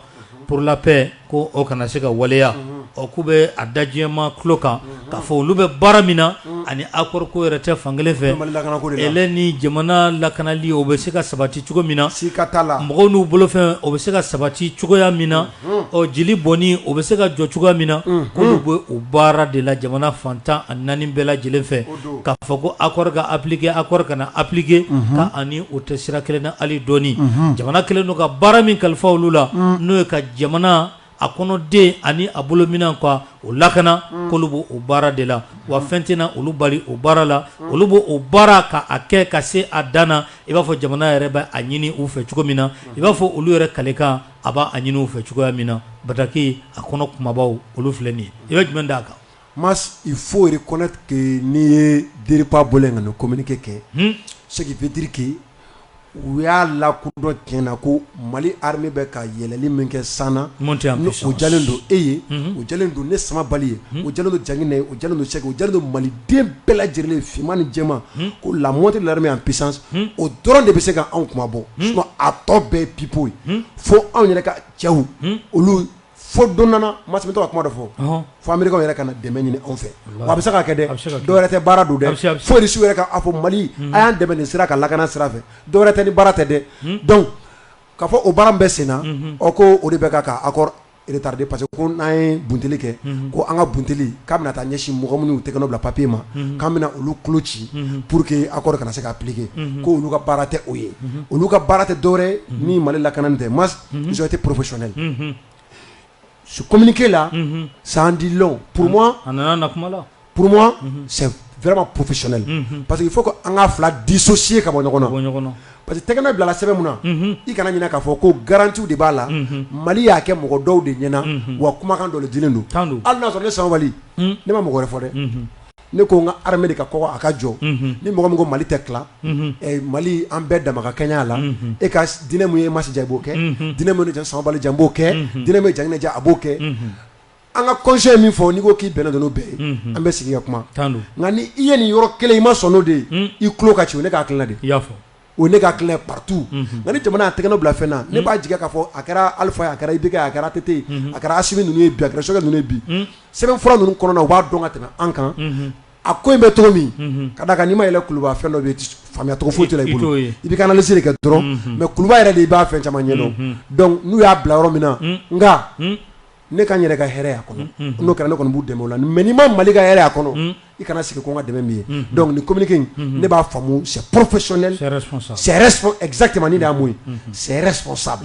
S2: pour la paix ko o kana se ka waleya ɔ k'u bɛ a da jama tulo kan k'a fɔ olu bɛ baara min na ani accord ko yɛrɛ tɛ fankelen fɛ hɛrɛ ni jamana lakanali o bɛ se ka sabati cogo min na si ka la mɔgɔw n'u bolofɛn o bɛ se ka sabati cogoya min na ɔ jeli bɔnni o bɛ se ka jɔ cogoya min na k'olu bɛ o baara de la jamana fan tan ani naani bɛɛ lajɛlen fɛ k'a fɔ ko accord ka appliquer accord kana appliquer ka a ni o tɛ sira kelen na hali dɔɔnin jamana kɛlen don ka baara min kalifa olu la n'o ye ka jamana a kɔnɔden ani a bolominɛn ka o lakana k'olu b'o o baara de la wa fɛn tɛna olu bali o baara la olu b'o o baara ka a kɛ ka se a dan na i b'a fɔ jamana yɛrɛ bɛ a ɲini u fɛ cogo min na i b'a fɔ olu yɛrɛ kalekan a b'a a ɲini fɛ cogoya min na bataki a kɔnɔ kumabaw olu filɛ nin i bɛ jumɛn d'a kan ma i
S4: foyi kɔnɛ n'i ye teri bolo in ka komke kɛ seguduriki u y'a la ko dɔ ti na ko mali ha bɛ ka yɛlɛli min kɛ san o ja don e ye o ja don ne sama bali ye o ja don jaina ye o ja don segu ja don maliden bɛɛ lajɛlen f ni jɛma ko lamɔ tɛ laremi yan psa o dɔrɔn de bɛ se ka anw kunmabɔ sinon a tɔ bɛɛ pipeau ye fo anw yɛrɛ ka cɛw olu fo don nana Mas n bɛ to ka kuma dɔ fɔ fo Américains yɛrɛ ka na dɛmɛ ɲini anw fɛ wa a bɛ se ka kɛ dɛ dɔwɛrɛ tɛ baara don dɛ fo Irisiw yɛrɛ ka a fɔ mali a y'an dɛmɛ nin sira kan lakana sira fɛ dɔwɛrɛ tɛ ni baara tɛ dɛ donc k'a fɔ o baara min bɛ sen na o ko o de bɛ ka accord retari pa ko n'a ye bunt kɛ ko an ka bunt k'a bɛna taa ɲɛsin mɔgɔ minnu tɛ bila papiye ma k'an bɛna olu kolo ci pur que a kana se k ka pke ko olu ka baara tɛ o ye olu ka baara tɛ dɔwɛrɛ ni mali lak tɛ ma muso tɛ porofesɛɛ su kɔmiminique la sandi pma Pour moi unhun c'est vraiment professionnel unhun parce que il faut que an ŋa 2 dissocier ka bɔ ɲɔgɔn na ka bɔ ɲɔgɔn na parce que tɛgɛnɔ bilala sɛbɛn mun na unhun i kana ɲinɛ k'a fɔ ko garantie w de b'a la unhun Mali y'a kɛ mɔgɔ dɔw de ɲɛna unhun wa kumakan dɔ le dilen don tan don hali n'a sɔrɔ ne Samabali unh ne ma mɔgɔ wɛrɛ fɔ dɛ unhun ne ko ŋa armée de ka kɔgɔ a ka jɔ unhun ni mɔgɔ min ko Mali tɛ tilan unhun ɛ Mali an bɛɛ dama ka kɛɲɛ a la unhun e ka s diinɛ mun ye e Mas diya i b'o kɛ unhun diinɛ mun ye ne ja Samabali diya n b'o kɛ unhun diinɛ mun ye Jaŋinɛ diya a b'o kɛ unhun an ka constitution ye min fɔ n'i ko k'i bɛnna n'o bɛɛ ye an bɛ sigi ka kuma nka ni i ye nin yɔrɔ kelen i ma sɔn n'o de ye i tulo ka ci ne k'a kɛlɛ de y'a fɔ o ne ka kɛlɛ partout nka ni jamana a tɛgɛnɔ bila fɛn na ne b'a jigi k'a fɔ a kɛra Alpha ye a kɛra IBK a kɛra ATT a kɛra Assimi ninnu ye bi a kɛra Choguel ninnu ye bi sɛbɛn fura ninnu kɔnɔ u b'a dɔn ka tɛmɛ an kan a ko in bɛ cogo min ka d'a kan n'i ma yɛlɛ kuluba fɛn dɔ bɛ yen faamuya cogo foyi t'i bolo i bɛ ka analyse de kɛ dɔrɔn mais kuluba yɛrɛ de i b'a fɛn caman ɲɛdɔn donc n'u y'a bila yɔrɔ min na nka ne ka yɛrɛ ka hɛrɛɛ a kɔnɔ n'o kɛra ne kɔni b' dɛmɛ la mɛ n'i ma mali ka hɛrɛɛ a kɔnɔ i kana sigi ko ka dɛmɛ min ye dɔnku ni kɔmimuni in ne b'a faamumu sɛ porofe sɔnɛ sɛɛrɛkimani d'a ma ye sɛ sɔn sa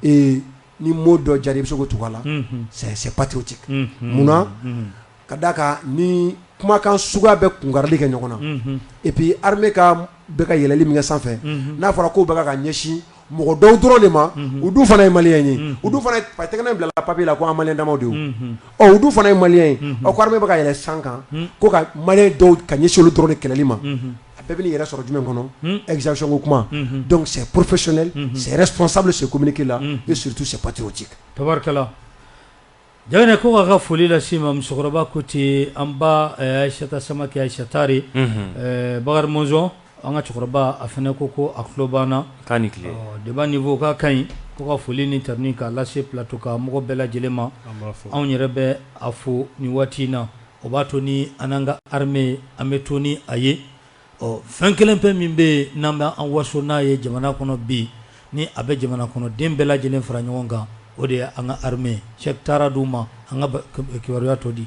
S4: ee ni mɔ dɔ jara i bɛ se tugu la sɛ sɛ pati ci munna ka d'a kan ni kumakan suguya bɛ kunkarili kɛ ɲɔgɔn na et puis armée bɛ ka yɛlɛli min kɛ sanfɛ n'a fɔra k'o bɛ ka ɲɛsin mɔgɔ dɔw dɔrɔn de ma u dun fana ye maliyɛn ye u tɛgɛ bila papier la ko an maliyɛn damaw u dun fana ye maliyɛn ye ko armée bɛ ka yɛlɛ san kan ko ka maliyɛn dɔw ka ɲɛsin olu dɔrɔn de kɛlɛli ma a bɛɛ bɛ n'i yɛrɛ sɔrɔ jumɛn kɔnɔ exaction ko kuma donc c'est professionnel c'est responsable ce communiqué là et surtout c'est patriotique
S2: Jaganɛ ko k'a ka foli lase ma musokɔrɔba ko ten an ba Aïssata Samakɛ Aïssa Tare Bakari Mɔnzɔn an ka cɛkɔrɔba a fana ko ko a tulo b'an na k'a ni tile débat niveau ka ka ɲi ko ka foli ni tanuni k'a lase plateau ka mɔgɔ bɛɛ lajɛlen ma anw yɛrɛ bɛ a fo nin waati in na o b'a to ni an n'an ka armée an bɛ to ni a ye Ɔ fɛn kelen pe min bɛ yen n'an bɛ an waso n'a ye jamana kɔnɔ bi, ni a bɛ jamana kɔnɔ den bɛɛ lajɛlen fara ɲɔgɔn kan, o de ye an ka armée ye. Cheikh taara di u ma, an ka kibaruya tɔ di.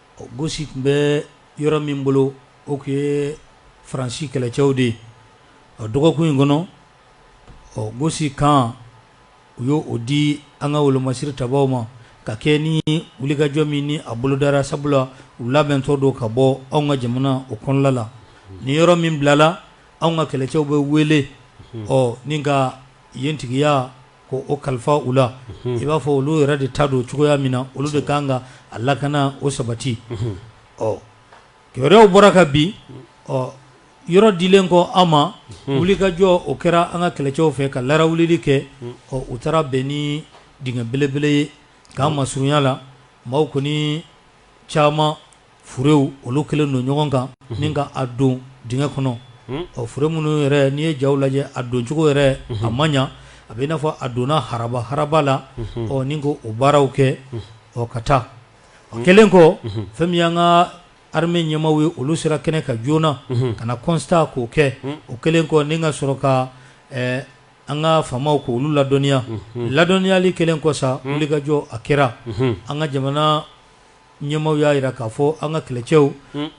S2: Gosi tun bɛ yɔrɔ min bolo o tun ye faransi kɛlɛcɛw de ye a dɔgɔkun in kɔnɔ ɔ gosi kan u y' o di an ka wolomasiri tabaw ma ka kɛ ni wulikajɔ min ni a bolo dara sabula u labɛntɔ don ka bɔ anw ka jamana o kɔnɔla la ni yɔrɔ min bilala anw ka kɛlɛcɛw bɛ wele ɔ ni ka yen tigiya ko o kalifa u la i b'a fɔ olu yɛrɛ de ta don cogoya min na olu de kan ka a lakana o sabati ɔ kibaruyaw bɔra kabi ɔ yɔrɔ dilen kɔ an ma wulikajɔ o kɛra an ka kɛlɛcɛw fɛ ka larawulili kɛ ɔ u taara bɛn ni dingɛ belebele ye kan masurunya la maaw kɔni caman furew olu kɛlen don ɲɔgɔn kan ni ka a don dingɛ kɔnɔ ɔ fure minnu yɛrɛ n'i ye jaw lajɛ a doncogo yɛrɛ a ma ɲa a bɛ n'a fɔ a donna haraba haraba la ɔ ni ko o baaraw kɛ ɔ ka taa o kɛlen kɔ fɛn min y'an ka armée ɲɛmaaw ye olu sera kɛnɛ kan joona ka na constat k'o kɛ o kɛlen kɔ ni ka sɔrɔ ka an ka faamaw k'olu ladɔnniya ladɔnniyali kɛlen kɔ sa wulikajɔ a kɛra an ka jamana ɲɛmaaw y'a jira k'a fɔ an ka kɛlɛcɛw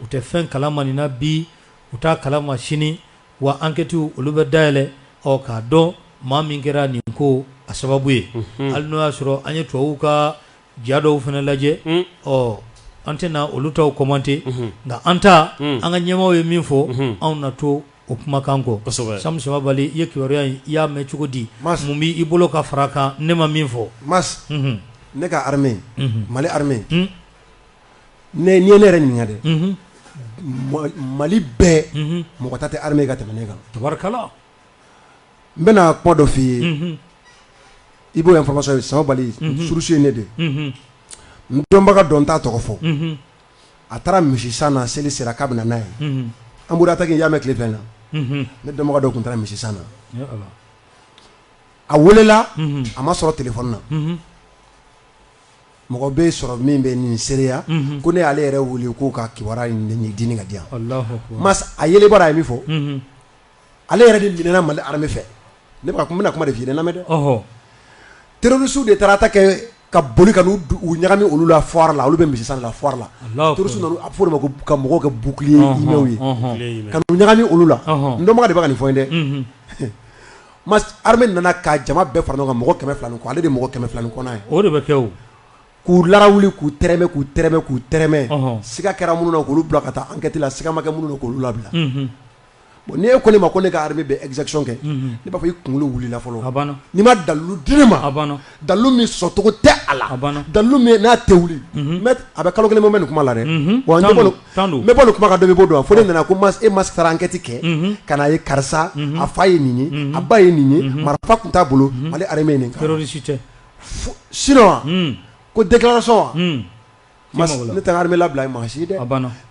S2: u tɛ fɛn kalama nin na bi u t'a kalama sini wa enquête olu bɛ dayɛlɛ ɔ k'a dɔn maa min kɛra nin ko a sababu ye hali n'o y'a sɔrɔ an ye tubabuw ka ja dɔw fana lajɛ ɔ an tɛna olu taw commenter nka an ta an ka ɲɛmaaw ye min fɔ anw na to o kumakan kɔ Sam Samabali i ye kibaruya in i y'a mɛn cogo di mun b' i bolo ka fara kan ne ma min fɔ
S4: Mas ne ka armée Mali armée n'i ye ne yɛrɛ ɲininka dɛ mali bɛɛ mɔgɔ ta tɛ armée ka tɛmɛ ne kan n bɛna kuma dɔ f' i ye i b'o information ye Samabali source ye ne de n dɔnbaga don n t'a tɔgɔ fɔ a taara misi san na seli sera k'a bɛna n'a ye an bɔra ta k'i y'a mɛn tile fɛn na ne dɔnbaga dɔ tun taara misi san na a welela a ma sɔrɔ telefɔni na mɔgɔ bɛ sɔrɔ min bɛ nin seereya ko ne y'ale yɛrɛ wele k'u ka kibaruya di ka di a ye bara ye min fɔ ale yɛrɛ de minɛna Mali armée fɛ ne bɛ ka kuma n bɛna kuma de f'i ye dɛ n lamɛn dɛ, ɔhɔ, terroristes de taara attaque kɛ ka boli ka n'u ɲagami olu la foire la olu bɛ misisan de la foire la, Alahu akbar, terroristes nana a bɛ fɔ o de ma ko ka mɔgɔw kɛ bouclier humains ye, ɔnhɔn, ka n'u ɲagami olu la, ɔnhɔn, n dɔnbaga de bɛ ka nin fɔ n ye dɛ, unhun, Mas armée nana ka jama bɛɛ fara ɲɔgɔn kan mɔgɔ kɛmɛ fila ni kɔ ale de ye mɔgɔ kɛmɛ fila ni kɔ na ye, o de bɛ kɛ
S2: o, k'u larawuli
S4: k'u tɛrɛmɛ k'u tɛrɛmɛ k'u tɛrɛmɛ, ɔnhɔn, siga kɛra minnu na k'olu bila ka taa enquête la siga ma kɛ minnu na k'olu labila, unhun bon ni e ko ne ma ko ne ka armée bɛ exaction kɛ, unhun, ne b'a fɔ i kunkolo wulila fɔlɔ, a banna, n'i ma
S2: dalilu di
S4: ne ma, a banna, dalilu min sɔsɔcogo tɛ a la, a banna, dalilu min n'a tɛ wuli, unhun, mais a bɛ kalo kelen bɔ n bɛ nin kuma la dɛ, unhun, bon n bɛ bɔ nin kuma kan dɔ bɛ bɔ o don wa fo ne nana ko e Mas k'i taara enquête kɛ, unhun, ka n'a ye karisa a fa ye nin ye, a ba ye nin ye, marifa tun t'a bolo Mali armée ye nin kɛ, terroriste tɛ, sinon wa, un, ko déclaration wa ne taara bɛ labila i maa si dɛ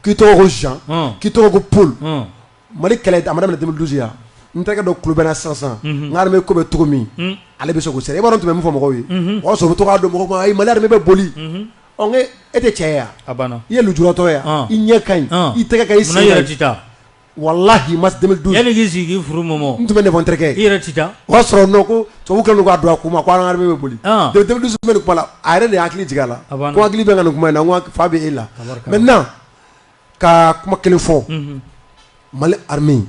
S4: k'i tɔgɔ ko zan k'i tɔgɔ ko paul mali kɛlɛ da minɛ tɛmɛ dusu yan n tɛgɛ dɔ ku kulubali sansan n bɛ ko bɛ cogo min ale bɛ se ko sɛ e tun bɛ min fɔ mɔgɔw ye o y'a sɔrɔ bɛ tɔgɔ' don mɔgɔ ma a ma bɛ boli e tɛ cɛ i ye jtɔ yan i ɲɛ ka i tɛgɛ i walahi Mas deux mille douze yanni k'i sigi k'i furu mɔmɔ n tun bɛ ne terikɛ i yɛrɛ tɛ taa o y'a sɔrɔ non ko tubabu kɛlen k'a don a kun ma ko an ka armée bɛ boli deux mille douze bɛ nin kuma la a yɛrɛ de hakili jigin a la ko hakili bɛ ka nin kuma in na fa bɛ e la maintenant ka kuma kelen fɔ Mali armée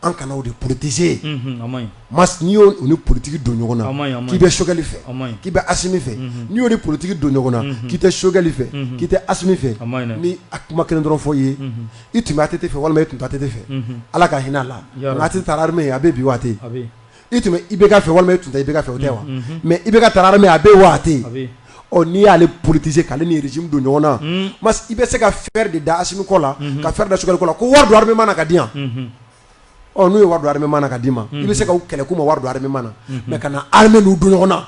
S4: an kana o de politiser mas n'i y'o ni politique don ɲɔgɔn na k'i bɛ Choguel fɛ k'i bɛ Assimi fɛ n'i y'o ni politique don ɲɔgɔn na k'i tɛ Choguel fɛ k'i tɛ Assimi fɛ ni a kuma kelen dɔrɔn fɔ ye i tun bɛ ATT fɛ walima i tun tɛ ATT fɛ ala ka hinɛ a la ATT taara armée a bɛ bi wa a tɛ i tun bɛ IBK fɛ walima i tun tɛ IBK fɛ o tɛ wa mɛ IBK taara armée a bɛ wa a tɛ n'i y'ale politise k'ale ni régime don ɲɔgɔn na i bɛ se ka fer de da Assimi kɔ la ka fer da Choguel kɔ la ko wari don armée na ka di yan ɔ n'u ye wari don armée na ka d'i ma i bɛ se ka kɛlɛ k'u ma wari don armée na mɛ kana armée n'u don ɲɔgɔn na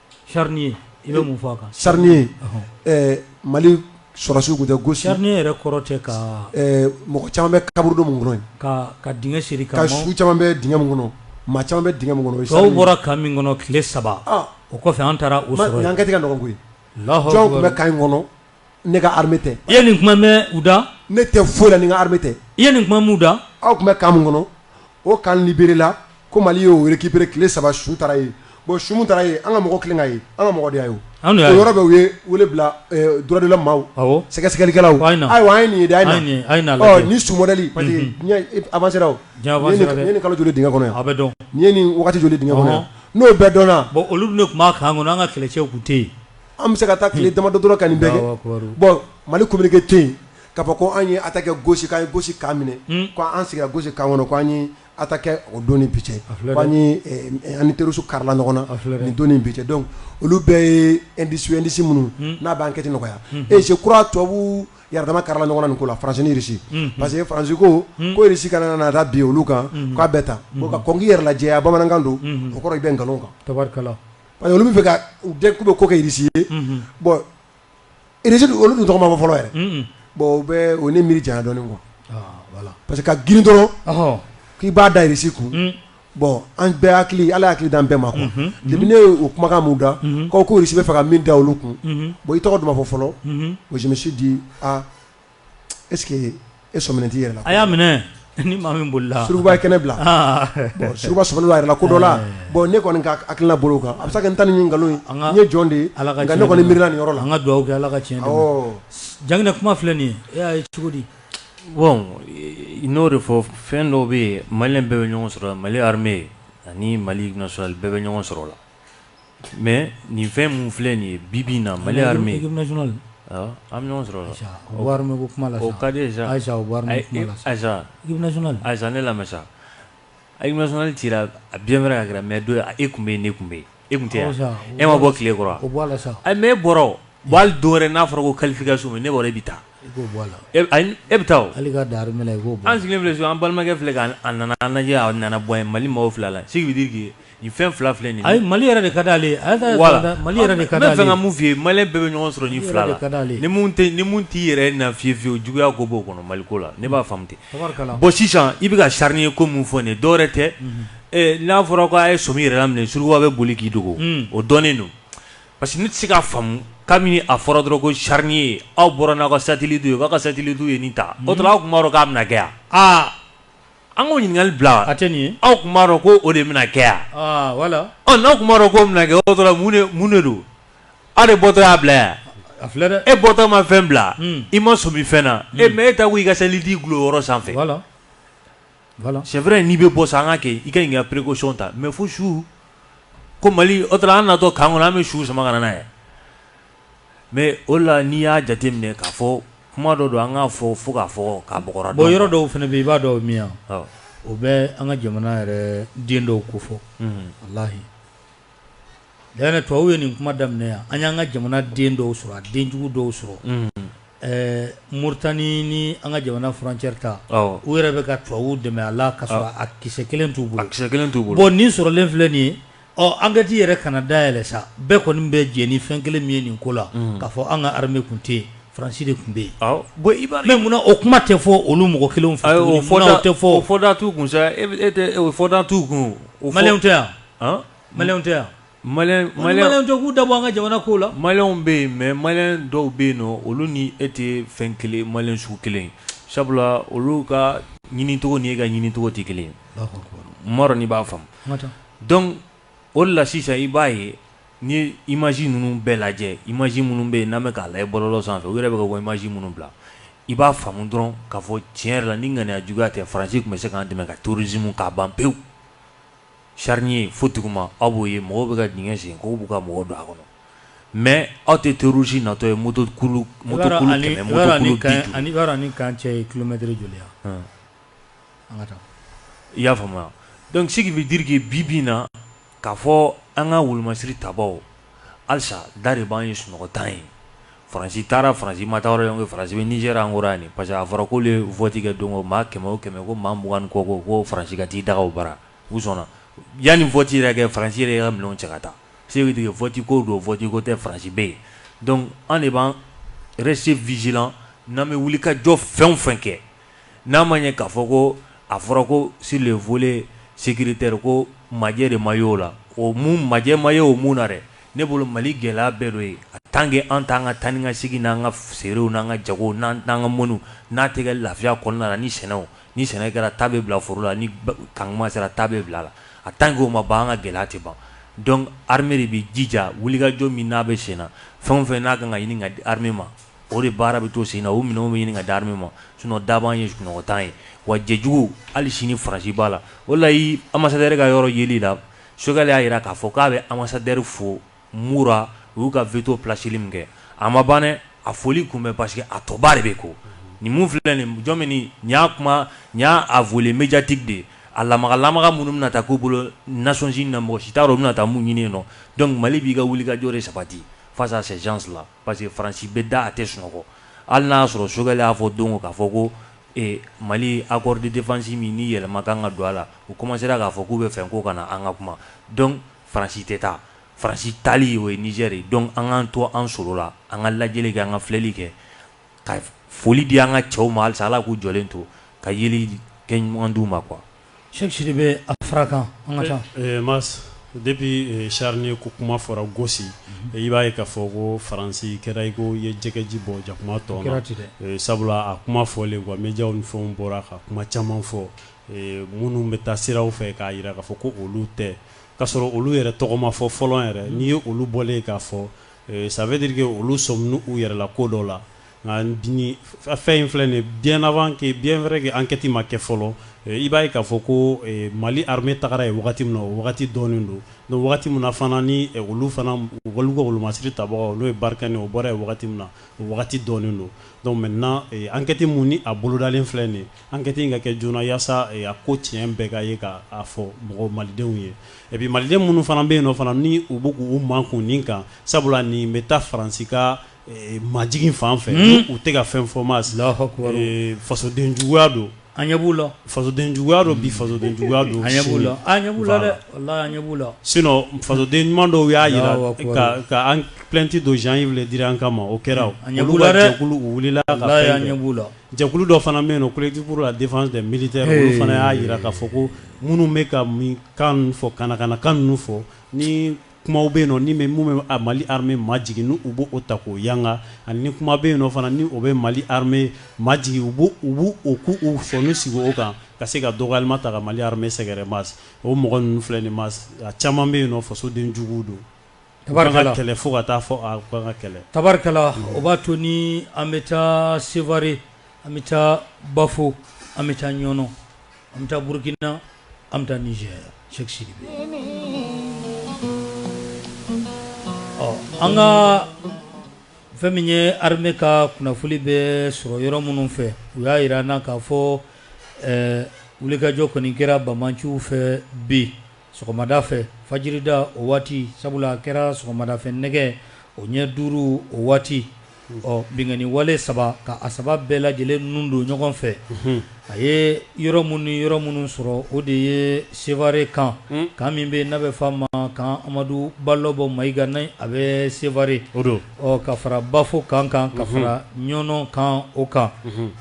S2: charnier i bɛ mun fɔ a kan
S4: charnier mali sɔrɔdasiw tun tɛ gosi charnier yɛrɛ kɔrɔ tɛ ka
S2: mɔgɔ caman
S4: bɛ kaburudo min kɔnɔ ka
S2: dingɛ siri ka su caman bɛ
S4: dingɛ min kɔnɔ mɔgɔ caman bɛ dingɛ min kɔnɔ aw bɔra camp min
S2: kɔnɔ tile saba o kɔfɛ an taara u sɔrɔ yen enquête ka nɔgɔn koyi
S4: jɔn tun bɛ camp in kɔnɔ ne ka armée tɛ, i ye nin kuma mɛn
S2: u da? Ne tɛ foyi la ni n
S4: ka armée tɛ, i ye nin kuma mɛn u
S2: da? Aw tun bɛ camp min
S4: kɔnɔ, o camp liberer la ko Mali y'o recuperer tile saba su taara yen, bon su min taara yen, an ka mɔgɔw kɛlen k'a ye, an ka mɔgɔ de y'a ye o, anw de y'a ye, o yɔrɔ bɛɛ u ye wele bila droit de l'homme maaw, awɔ, sɛgɛsɛgɛlikɛlaw, a ye na, ayiwa an ye nin ye dɛ, a ye na lajɛ, ɔ nin su modèle parce que diɲɛ avancer la o, diɲɛ avancer la dɛ, nin ye nin kalo joli ye dingɛ kɔnɔ yan, a bɛ dɔn, nin ye nin wagati
S2: joli
S4: ye dingɛ kɔnɔ yan, n'o bɛɛ dɔnna, bon olu dun de tun b'a camp
S2: kɔnɔ an ka kɛlɛcɛw tun tɛ yen An bɛ se ka taa
S4: tile damadɔ dɔrɔn ka nin bɛɛ kɛ, Alahu akibaru, bon Mali communiqué tɛ yen k'a fɔ ko an ye attaque kɛ Gossi k'an ye Gossi camp minɛ, un, ko an sigira Gossi camp kɔnɔ ko an ye attaque kɛ o don ni bi cɛ, a filɛ dɛ, ko an ye an ni terroristes karila ɲɔgɔn na, a filɛ dɛ, nin don ni bi cɛ donc olu bɛɛ ye indices ye indices minnu n'a bɛ enquête nɔgɔya, unhun, et je crois tubabuw yɛrɛdama karila ɲɔgɔn na nin ko la France ni Russie, unhun, parce que France ko ko Russie kana na taa bin olu kan k'a bɛ tan, bon ka kɔn k'i yɛrɛ lajɛya bamanankan don, unhun, o kɔrɔ i bɛ nkalon kan, tabarikala
S2: Parce que olu b'a fɛ
S4: ka u den k'u bɛ ko kɛ irisi ye bon irisi olu dun tɔgɔ ma fɔ fɔlɔ yɛrɛ bon o bɛ o ne miiri janya dɔɔnin quoi parce que ka girin dɔrɔn k'i b'a da irisi kun bon an bɛɛ hakili ala ye hakili d'an bɛɛ ma quoi depuis ne o kumakan mɛn u da ko ko irisi b'a fɛ ka min da olu kun bon i tɔgɔ dun ma fɔ fɔlɔ je me suis dit Est-ce que e sɔminen t'i yɛrɛ la a y'a minɛ
S2: ni maa min bolila surukuba ye kɛnɛ
S4: bila surukuba sɔminen b'a yɛrɛ la ko dɔ la bon ne kɔni ka hakilila bolo kan a bɛ se ka kɛ n ta nin nkalon ye n ye jɔn de ye nka ne kɔni miirila nin yɔrɔ la an ka dugawu kɛ ala ka
S2: tiɲɛ dɛmɛ Janginɛ kuma filɛ nin ye e y'a ye cogo di bon
S1: i n'o de fɔ fɛn dɔw bɛ yen maliyɛn bɛɛ bɛ ɲɔgɔn sɔrɔ mali armée ani mali national bɛɛ bɛ ɲɔgɔn sɔrɔ la Mɛ nin fɛn minnu filɛ nin ye bi bi na mali an bɛ ɲɔgɔn sɔrɔ kaz
S2: ne lamɛn sa
S1: a ma sɔn ci a bi wɛrɛ mɛ don e tun bɛ ne tun bɛ e tun tɛ e ma bɔ tilekɔrɔ mɛ bɔra don wɛrɛ n'a fɔra ko kalifa ka so ne wɛrɛ bɛ taa I k'o bɔ a la e b ayi n e be taa o hali i k'a dan armée la i k'o bɔ an sigilen filɛ so an balimakɛ filɛ ka n a nana an lajɛ a nana bɔ an ye Mali mɔɔw filɛ a la ce qui veut dire que nin fɛn 2 filɛ nin ye ayi Mali yɛrɛ de kadi ale
S2: ye a y'a to a yɛrɛ voilà kɔnɔ Mali yɛrɛ de kadi ale ye n be fɛ ka mun f'i ye malien bɛɛ
S1: be ɲɔgɔn sɔrɔ nin 2 la Mali yɛrɛ de kadi ale ye ni mun te ni mun t'i yɛrɛ na fiyewu-fiyewu juguya ko b'o kɔnɔ Mali ko la ne b'a faamu ten tabarikala bon sisan i be ka charnier ko mun fɔ nin ye dɔwɛrɛ tɛ unhun ee n'a fɔra ko a' ye sɔmi yɛrɛ la minɛ surukuba be boli k'i dogo unn o dɔnnen don Parce que ne tɛ se k'a faamu kabini a fɔra dɔrɔn ko charnier aw bɔra n'aw ka satellite ye aw ka satellite ye nin ta o tuma aw tun b'a dɔn k'a bɛna kɛ yan an k'o ɲininkakali bila a tɛ nin ye aw tun b'a
S2: dɔn ko o de
S1: bɛna kɛ yan
S2: wala n'aw tun b'a dɔn
S1: k'o bɛna kɛ o tuma mun de don aw de bɔtɔ y'a bila yan a filɛ dɛ e bɔtɔ
S2: ma fɛn bila
S1: i ma sɔmi fɛn na e mais e ta ko i ka satellite dulon yɔrɔ sanfɛ
S2: c'est vrai n'i
S1: bɛ bɔ sa an k'a kɛ i ka ɲi ka précaution ta mais fo su ko mali o tuma an natɔ camp kɔnɔ an bɛ su sama ka na n'a ye mais o la n'i y'a jateminɛ k'a fɔ kuma dɔ don an k'a fɔ fo k'a fɔ k'a bɔgɔra bon yɔrɔ dɔw fana bɛ i
S2: b'a dɔn min ye o bɛ an ka jamana yɛrɛ den dɔw ko fɔ walayi D'ailleurs tubabu ye nin kuma daminɛ yan an y'an ka jamana den dɔw sɔrɔ a denjugu dɔw sɔrɔ Mauritanie ni an ka jamana frontière ta u yɛrɛ bɛ ka tubabu dɛmɛ a la ka sɔrɔ a kisɛ kelen t'u bolo kisɛ kelen t'u bolo nin sɔrɔlen filɛ nin ye ɔ enquête yɛrɛ kana dayɛlɛ sa bɛɛ kɔni bɛ jɛ ni fɛn kelen min ye nin ko la k'a fɔ an ka armée tun tɛ yen faransi de tun bɛ yen munna o kuma tɛ fɔ olu mɔgɔ kelen fɛ o tɛ fɔ o fɔda t'u kun
S1: e o fɔda t'u kun o tɛ yan
S2: tɛ yan malien tɛ k'u da bɔ an ka jamana ko la malien bɛ yen mais
S1: malien dɔw bɛ yen nɔn olu ni e tɛ fɛn kelen malien sugu kelen sabula olu ka ɲinicogo ni e ka ɲinicogo tɛ kelen ye n m'a dɔn n'i b'a faamu o la sisan i b'a ye n'i ye image ninnu bɛɛ lajɛ image minnu bɛ yen n'an bɛ k'a lajɛ bɔlɔlɔ sanfɛ u yɛrɛ bɛ bɔ image minnu bila i b'a faamu dɔrɔn k'a fɔ tiɲɛ yɛrɛ la ni ŋaniya juguya tɛ faransi tun bɛ se k'an dɛmɛ ka terrorisme k'a ban pewu Sariyarini fo duguma aw b'o ye mɔgɔ bɛ ka d sen ko b'u ka mɔgɔ don a kɔnɔ mɛ aw tɛ torusi natɔ ye moto ni kan
S2: cɛ ye kulomɛt joli i y'a faamuya
S1: dɔnkiliki bɛ jirikike bi bin na k ka fɔ an ka wolomasiri ta halisa da de b'an ye sunɔgɔ tan ye faransi taara faransi ma taayɔrɔ ye faransi bɛ Niger an kɔrɔ yan parce que a fɔra k'olu ye vote kɛ don maa kɛmɛ o kɛmɛ ko maa mugan ni kɔ ko ko faransi ka t'i daga o bara u sɔnna yanni vote yɛrɛ kɛ faransi yɛrɛ ka minɛnw cɛ ka taa ce qui veut dire que vote ko don vote ko tɛ faransi bɛ yen donc an de b'an rester vigilant n'an bɛ wuli ka jɔ fɛn fɛn kɛ N'a ma ye k'a fɔ ko a fɔra ko sur le volet sécuritaire ko majɛ de ma ye o la o majɛ ma ye o mun na dɛ ne bolo mali gɛlɛya bɛɛ dɔ ye a tant que an t'an ka taa ni ka segin n'an ka feerew n'an ka jago n'an ka mɔniw n'a tɛ kɛ lafiya kɔnɔna na ni sɛnɛ ni sɛnɛ kɛra ta bɛ bila foro la ni kan tuma sera ta bɛ bila a la a tant que o ma ban an ka gɛlɛya tɛ ban donc armée de bɛ jija wulikajɔ min n'a bɛ sen na fɛn o fɛn n'a kan ka ɲini ka di armée ma O de baara bɛ to sen na o minɛnw bɛ ɲini ka di armée ma sinon da b'an ye sunɔgɔ t'an ye wa jɛjugu hali sini Faransi b'a la o la i ambassadeur ka yɔrɔ ye la Choguel y'a jira k'a fɔ k'a bɛ ambassadeur fo Mura u y'u ka veto placeli min kɛ a ma ban dɛ a foli kun bɛ parce que a tɔba de bɛ kɔ nin min filɛ nin jɔn min nin y'a kuma n y'a a volet médiatique de ye a lamaga minnu bɛna taa k'u bolo Nations Unies na mɔgɔ si t'a dɔn u bɛna na taa mun ɲini yen nɔ donc mali b'i ka wulikajɔ de sabati face à ces gens là Parce que Faransi bɛ da a tɛ sunɔgɔ hali n'a y'a sɔrɔ Choguel y'a fɔ don o don k'a fɔ ko ee Mali accord de defense min ni yɛlɛma ka kan ka don a la, u commencer ra k'a fɔ k'u bɛ fɛn ko ka na an ka kuma donc Faransi tɛ taa. Faransi taali o ye Niger ye donc an k'an to an solo la, an ka lajɛli kɛ, an ka filɛli kɛ, ka foli di an ka cɛw ma halisa Ala k'u jɔlen to, ka yeli kɛ ɲuman d'u ma quoi. Cheikh Sidibe
S2: a fara kan mais
S3: depuis charnier ko kuma fɔra Gossi i b'a ye k'a fɔ ko Faransi kɛra i ko i ye jɛgɛji bɔn jakuma tɔn na sabula a kuma fɔlen quoi médiaw ni fɛnw bɔra ka kuma caman fɔ minnu bɛ taa sira fɛ k'a jira k'a fɔ ko olu tɛ k'a sɔrɔ olu yɛrɛ tɔgɔ ma fɔ fɔlɔ yɛrɛ n'i ye olu bɔlen ye k'a fɔ ça veut dire que olu sɔminen u yɛrɛ la ko dɔ la Nka nin fɛn in filɛ nin ye bien avant que bien vrai que enquete ma kɛ fɔlɔ, i b'a ye k'a fɔ ko Mali armee tagara yen wagati min na, o wagati dɔnnen don, donc wagati min na fana ni olu fana olu ka wolomasiri tabagaw n'o ye Barkhane o bɔra yen wagati min na, o wagati dɔnnen don donc maintenant enquete min ni a bolodalen filɛ nin ye, enquete in ka kɛ joona yasa a ko tiɲɛ bɛɛ ka ye k'a fɔ mɔgɔ malidenw ye et puis maliden minnu fana bɛ yen nɔ fana ni u bɛ k'u makun nin kan sabula nin bɛ taa Faransi ka majigin fan fɛ u tɛ ka fɛn fɔ mais fasoden juguya don an ɲɛ b'u
S2: la fasoden juguya don bi
S3: fasoden juguya don an ɲɛ
S2: b'u la an ɲɛ b'u la sinon fasoden
S3: ɲuman dɔw y'a jira ka plainte don Jean-Yves Le Drian kama o kɛra olu wulila ka fɛn kɛ jɛkulu dɔ fana bɛ yen nɔ collectif pour la défense des militaires olu fana y'a jira k'a fɔ ko minnu bɛ ka kan fɔ kana kana kan fɔ Kumaw bɛ yen nɔ ni bɛ minnu bɛ a Mali armée majigin ni u bɛ o ta k'o yanga ani ni kuma bɛ yen nɔ fana ni o bɛ Mali armée majigin u b'o u b'u o k'u u sɔni sigi o kan ka se ka dɔgɔyalima ta ka Mali armée sɛgɛrɛ Mas o mɔgɔ ninnu filɛ nin ye Mas a caman bɛ yen nɔ fasoden juguw don u ka kan ka kɛlɛ fo ka taa fɔ a u ka kan ka kɛlɛ. Tabarikala o b'a
S2: to ni an bɛ taa Sevare an bɛ taa Bafo an bɛ taa Ɲɔnɔ. an bɛ taa burukina an bɛ taa Niger Cheikh Sidibe ɔ an ka fɛn min ye armée ka kunnafoni bɛ sɔrɔ yɔrɔ minnu fɛ u y'a yira an na k'a fɔ wulikajɔ kɔni kɛra bamanciw fɛ bi Sɔgɔmada fɛ fajirida o waati sabula a kɛra sɔgɔmada fɛ nɛgɛ o ɲɛ duuru o waati ɔ binkanni wale saba ka a saba bɛɛ lajɛlen nun don ɲɔgɔn fɛ a ye yɔrɔ minnu ni yɔrɔ minnu sɔrɔ o de ye Sevare kan kan min bɛ n'a bɛ f'a ma kan amadu balɔbɔ Mayiga n'a bɛ Sevare ɔ ka fara bafo kan kan ka fara Ɲɔnɔ kan o kan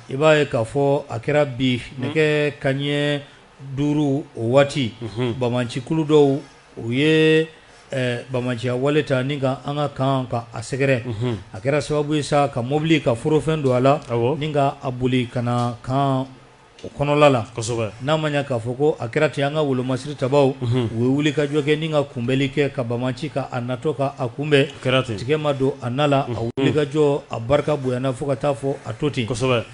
S2: i b'a ye k'a fɔ a kɛra bi nɛgɛ ka ɲɛ duuru o waati bamancikulu dɔw u ye bamanciya wale ta ni ka an ka kan ka a sɛgɛrɛ a kɛra sababu ye sa ka mɔbili ka forofɛn don a la ni ka a boli ka na kan o kɔnɔla la n'a ma ɲɛ k'a fɔ ko a kɛra ten an ka wolomasiri tabaw u ye wulikajɔ kɛ ni ka kunbɛnli kɛ ka bamanci ka a natɔ ka a kunbɛn tigɛ ma don a na la a wulikajɔ a barika bonyana fo ka taa fɔ a to ten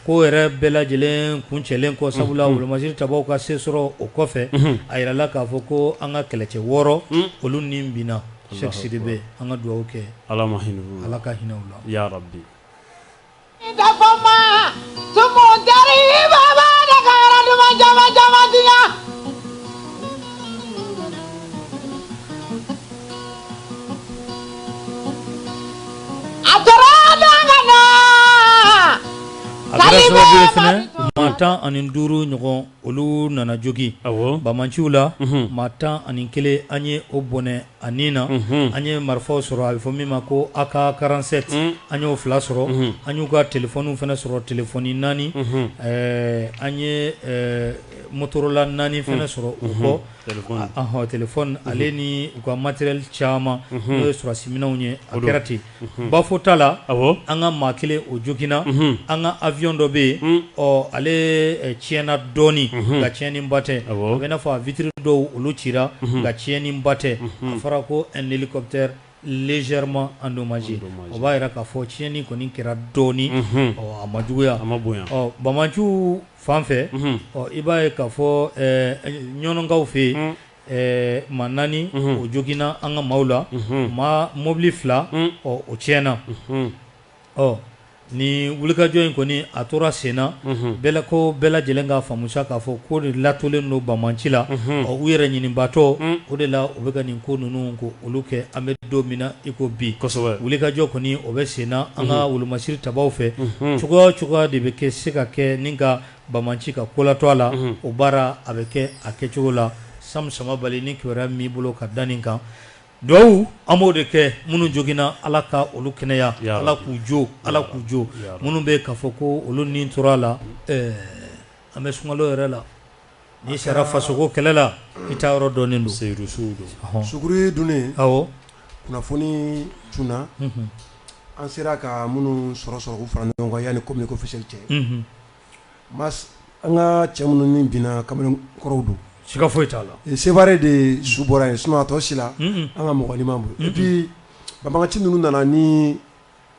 S2: Ko yɛrɛ bɛɛ lajɛlen kun cɛlen kɔ sabula wolomasiri tabaw ka se sɔrɔ o kɔfɛ a yirala k'a fɔ ko an ka kɛlɛcɛ wɔɔrɔ olu ni binna Cheikh Sidibe an ka dugawu kɛ ala ma hinɛ ala
S3: ka hinɛ
S2: u la ya ma Maa tan ani duuru ɲɔgɔn olu nana jogin bamanciw la maa tan ani kelen an ye o bɔnɛ a nin na an ye marifaw sɔrɔ a bɛ fɔ min ma ko AK quarante-sept an y'o fila sɔrɔ an y'u ka telefɔni fɛnɛ sɔrɔ telefɔni naani an ye motorola naani fɛnɛ sɔrɔ u kɔ ale ni u ka matériel caman n'o ye sɔrɔsiminɛnw ye a kɛra ten bafo ta la an ka maa kelen o joginna an ka awiyɔn dɔ bɛ yen ɔ ale tiɲɛna dɔɔnin nka tiɲɛniba tɛ a bɛ n'a fɔ a vitre dɔw olu cira nka tiɲɛniba tɛ a fɔra ko hélicoptère légèrement endommagé o b'a jira k'a fɔ tiɲɛni kɔni kɛra dɔɔnin a ma juguya a ma bonya banbaanciw fan fɛ i b'a ye k'a fɔ Ɲɔnɔnkaw fɛ yen maa naani o joginna an ka maaw la ma mɔbili fila o tiɲɛna ɔ ni wulikajɔ in kɔni a tora sen na ko bɛɛ lajɛlen k'a faamu sa k'a fɔ ko de latolen don banbaanci la ɔ u yɛrɛ ɲinibaatɔ o de la u bɛ ka nin ko ninnu ko olu kɛ an bɛ don min na iko bi wulikajɔ kɔni o bɛ sen na an ka wolomasiri tabaw fɛ cogoya o cogoya de bɛ kɛ se ka kɛ ni ka banbaanci ka kolatɔ a la o baara a bɛ kɛ a kɛcogo la Sam Samabali ni kibaruya min b'i bolo ka da nin kan Dugawu an b'o de kɛ minnu joginna ala ka olu kɛnɛya ala k'u jo ala k'u jo minnu bɛ yen k'a fɔ ko olu ni tora a la an bɛ sunkalo yɛrɛ la n'i sara fasoko kɛlɛ la i taa yɔrɔ dɔnnen don suguri
S4: dunnen kunnafoni cunna an sera ka minnu sɔrɔ sɔrɔ k'u fara ɲɔgɔn kan yanni communiqué officiel cɛ Mais an ka cɛ minnu min binna kamalen kɔrɔw don siga foyi t'a
S2: la Sevare de su
S4: bɔra yen sinon a tɔ si la an ka mɔgɔ ma bolo et puis banbaanci ninnu nana ni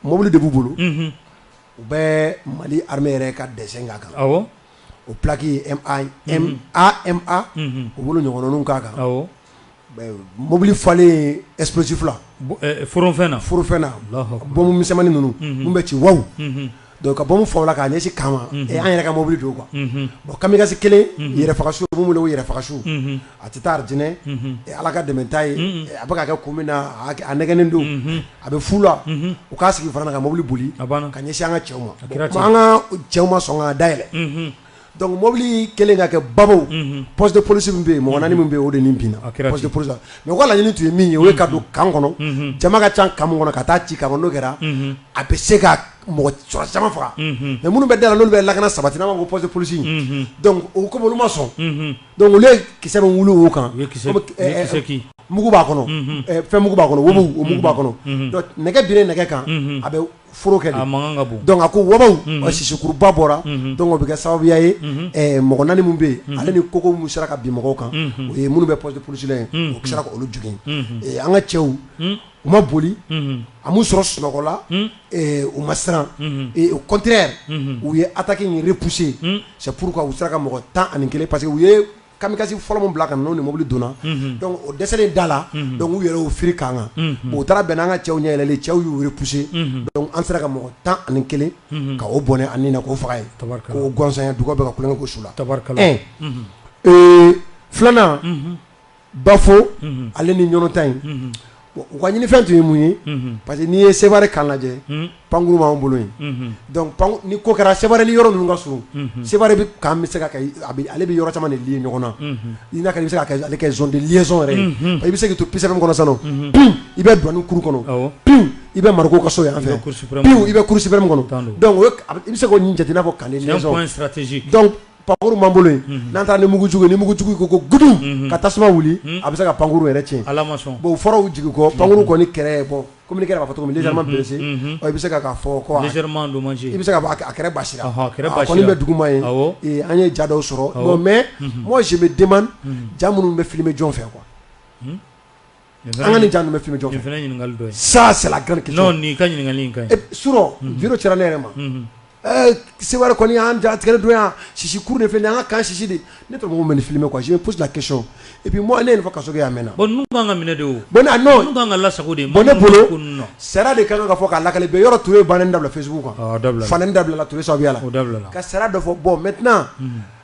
S4: mobili de b'u bolo u bɛ Mali armée yɛrɛ ka dessin k'a kan o plaque AMA u bolo ɲɔgɔnw k'a kan mobili falen explosif la forofɛn
S2: na bombe misɛnmannin
S4: ninnu min bɛ ci wa donc ka bombe fa o la k'a ɲɛsin kan ma an yɛrɛ ka mobili don quoi bon kamikaze kelen yɛrɛfagasu min wele ko yɛrɛfagasu a tɛ taa alijinɛ ala ka dɛmɛ t'a ye a bɛ ka kɛ kun min na a nɛgɛnnen don a bɛ fu la u k'a sigi fana ka mobili boli k'a ɲɛsin an ka cɛw ma an ka cɛw ma sɔn ka da yɛlɛ Donc mobili kelen ka kɛ ba poste de police min bɛ yen mɔgɔ naani min bɛ yen o de nin binna poste de police mais ko laɲini tun ye min ye o ye ka don kan kɔnɔ jama ka ca kan kɔnɔ ka taa ci kan n'o kɛra a bɛ se ka mɔgɔ caman faga mais minnu bɛ da la n'olu bɛ lakana sabati n'an b'a fɔ poste de police donc o comme olu ma sɔn donc olu ye kisɛ min wuli o kan mugu b'a kɔnɔ fɛn mugu b'a kɔnɔ mugu b'a kɔnɔ nɛgɛ bɛ nɛgɛ kan a foro kɛ de, a mankan ka bon, donc a ko wabaw, unhun, sisikuruba bɔra, unhun, donc o bɛ kɛ sababuya ye, unhun, ɛ mɔgɔ naani minnu bɛ yen, unhun, ale ni koko minnu sera ka bin mɔgɔw kan, unhun, o ye minnu bɛ poste de police la yen, unhun, u sera ka olu jogin, unhun, ɛ an ka cɛw, un, u ma boli, unhun, a m'u sɔrɔ sunɔgɔ la, un, ɛ u ma siran, unhun, et au contraire , unhun, u ye attaque in repousser, un, c'est pourquoi u sera ka mɔgɔ tan ani kelen parce que u ye Kamikaze fɔlɔ min bila ka na n'o ni mobili donna donc o dɛsɛlen da la donc u yɛrɛ y'u fili kan kan o taara bɛn an ka cɛw ɲɛ yɛlɛlen cɛw y'u repousser donc an sera ka mɔgɔ tan ani kelen ka o bɔnɛ a ni na k'o faga ye k'o gansan duga bɛ ka kulu kɛ ko su la filanan Bafo ale ni Ɲɔnɔn ta yen Bon u ka ɲinifɛn tun ye mun ye unhun parce que n'i ye Seware camp lajɛ hunn pankuru b'anw bolo yen unhun donc panku ni ko kɛra Seware ni yɔrɔ ninnu ka surun unhun Seware bi camp bɛ se ka kɛ i a bi ale bɛ yɔrɔ caman de lié ɲɔgɔn na unhun i n'a ka i bɛ se k'a kɛ ale kɛ zone de liaison yɛrɛ ye unhun ɔ i bɛ se k'i to Peace FM kɔnɔ sisan nɔ unhun piwu i bɛ douane cour kɔnɔ awɔ piwu i bɛ Mariko ka so yan fɛ i bɛ cour suprême piwu i bɛ cour suprême kɔnɔ donc o ye k a b i bɛ se k'o nin jate i n'a fɔ camp de liaison c'est un point stratégique donc pankkuru man bolo n'a taara ni mugujugu ni mugujugu ko ko g ka tasuma wuli a bɛ se ka pankkuru yɛrɛ cɛ bɔn fɔraw jigin kɔ pankkuru kɔni kɛlɛ bɔ kɔmi kɛra fɔ cogosi i bɛ se ka fɔ i bɛ se a kɛra basi bɛ duguma ye an ye jada sɔrɔ mɛ mɔgɔ si bɛ den ja minnu bɛ fili bɛ jɔn fɛ kuwa Nin fana an ka ye- nin ja ninnu bɛ filmer jɔn fɛ nin fana ye ɲininkali dɔ ye. ça c'est la grande question Non, nin ka ɲininkali in ka ɲi. surɔ vidéo cira ne yɛrɛ ma Unhun. ɛɛ Seware kɔni y'an ja tigɛli don yan sisi kuru de filɛ nin ye, an ka camp sisi de ne tɔgɔ ko mɛ ni filmer quoi je me pose la question et puis moi ne ye nin fɔ kaso kɛ yan mɛnna Bon ninnu kan ka minɛ de o. Bon, ah, non. Ninnu kan ka lasago de. bon ne Maa minnu bolo ko ninnu na. sariya de ka kan ka fɔ k'a lakale bɛɛ yɔrɔ Ture banɛni dabila facebook kan Ɔ, a dabilala. fanɛni dabilala Ture sababuya la O dabilala. ka sariya dɔ fɔ bon maintenant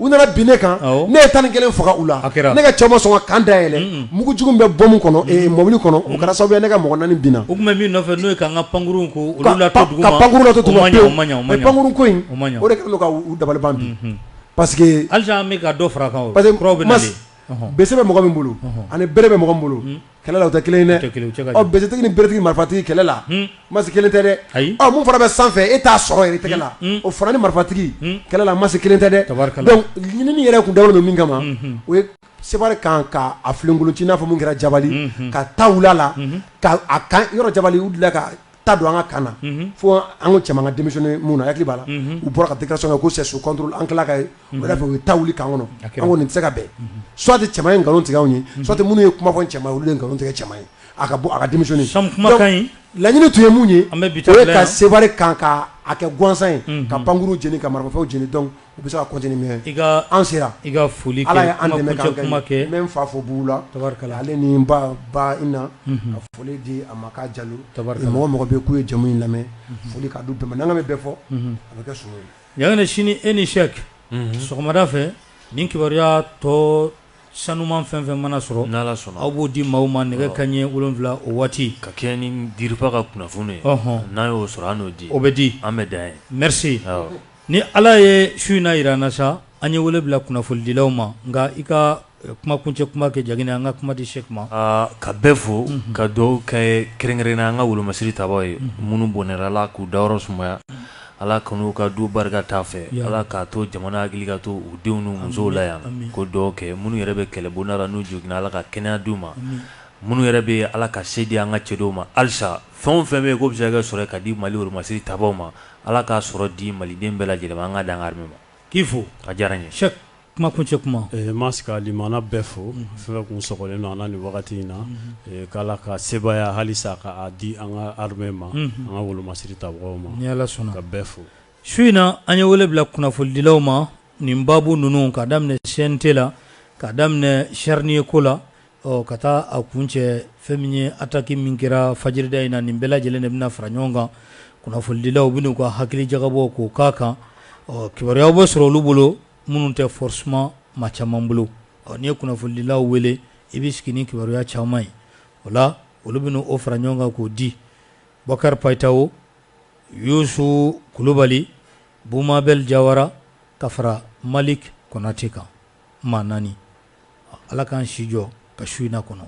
S4: u nana bin ne kan ne ye tan ni kelen faga u la ne ka cɛw ma sɔn ka camp da yɛlɛ mugujugu bɛ bɔmu kɔnɔ mɔbili kɔnɔ o kɛra sababu ye ne ka mɔgɔ naani binna u tun bɛ min nɔfɛ n'o ye k'an ka pankuru ko ka pankuru lato duguma pankuru ko in o de kɛlen don ka u dabali ban bi parce que halisa an bɛ ka dɔ fara a kan bese bɛ mɔgɔ min bolo ani bere bɛ mɔgɔ min bolo Kɛlɛ la o tɛ kelen ye dɛ besetigi ni beretigi marifatigi kɛlɛ la masi kelen tɛ dɛ min fana bɛ sanfɛ e t'a sɔrɔ i yɛrɛ tɛgɛ la o fana ni marifatigi kɛlɛ la masi kelen tɛ dɛ donc ɲinini yɛrɛ tun dabɔlen don min kama o ye Seware camp ka a filenkolonci i n'a fɔ min kɛra Jabali ka ta wuli a la ka camp yɔrɔ Jabali u tila ta don an ka kaana fo an ko cɛman denmisɛnnin minnu na b'a la u bɔra ka di ka sɔn ko se su an tila ka ye fɛ u ye ta wuli kan kɔnɔ an kɔni nin tɛ se ka bɛn suwa tɛ cɛ in nkalon tigɛ anw ye suwa tɛ minnu ye kuma fɔ cɛ olu nkalon tigɛ cɛ ye a ka bɔ a ka denmisɛnnin laɲini tun ye mun ye ka se kan ka a kɛ gansan ye ka pankkuru j ka marifafew jeni dɔn u bɛ se ka continuer mais i ka an sera i ka foli kɛ Ala ye an dɛmɛ k'an kuma kɛ n bɛ n fa fo bugu la tabarikala ale ni n ba ba Ina unhun ka foli di a ma k'a Jalo tabarikala mɔgɔ mɔgɔ bɛ ye k'u ye jɛmu in lamɛn unhun foli k'a d'u bɛɛ ma n'an k'an bɛ bɛɛ fɔ unhun a bɛ kɛ sogo ye Ɲanginnen sini e ni Sɛk unhun sɔgɔmada fɛ ni kibaruya tɔ sanuman fɛn fɛn mana sɔrɔ n'Ala sɔnna aw b'o di maaw ma nɛgɛ kanɲɛ 7 o waati ka kɛɲɛ ni DIRPA ka kunnafoni ye ɔnhɔn n'an y'o sɔrɔ an n'o di o bɛ di an bɛ dan yen merci awɔ Ni ala ye su in na jira an na sa an ye wele bila kunnafonidilaw ma nka i ka kuma kuncɛ kuma kɛ jani an ka kuma di Cheick ma ka bɛɛ fo ka dugawu kɛ kɛrɛnkɛrɛn na an ka wolomasiri tabaw ye minnu bɔnɛna ala k'u dayɔrɔ sumaya ala
S1: kan'u ka du barika t'a fɛ ala k'a to jamana hakili ka to u denw n'u musow la yan ka dugawu kɛ minnu yɛrɛ bɛ kɛlɛbonda la n'u joginna ala ka kɛnɛya d'u ma minnu yɛrɛ bɛ ala ka se di an ka cɛdenw ma halisa fɛn o fɛn bɛ yen k'o bɛ se ka sɔrɔ ka di mali wolomasiri tabaw ma Ala k'a sɔrɔ di maliden bɛɛ lajɛlen ma an ka dan an ka armée ma. K'i fo. A
S2: diyara n ye.
S1: Cheick kuma
S2: kuncɛ kuma. Ɛɛ n b'a se ka limana
S3: bɛɛ fo, fɛn o fɛn kun sɔgɔlen don an na nin wagati in na, ee k'Ala ka sebaaya halisa ka a di an ka armée ma, an ka wolomasiri tabagaw ma, ni Ala sɔnna, ka bɛɛ fo. Su in na, an
S2: ye wele bila kunnafonidilaw ma nin baabu ninnu, k'a daminɛ CNT la, k'a daminɛ Charnier ko la, Ɔ ka taa a kuncɛ fɛn min ye attaque min kɛra fajirida in na nin bɛɛ lajɛlen de bɛna fara ɲɔgɔn kan kunnafonidilaw bɛna u ka hakili jagabɔ k'o k'a kan ɔ kibaruyaw bɛ sɔrɔ olu bolo minnu tɛ forcément maa caman bolo ɔ n'i ye kunnafonidilaw wele i bɛ sigi ni kibaruya caman ye o la olu bɛ o fara ɲɔgɔn kan k'o di Bokar Païtao Youssouf Kulubali Boubou Mabel Jawara ka fara Malick Konaté kan maa naani Ala k'an si jɔ ka su in na kɔnɔ.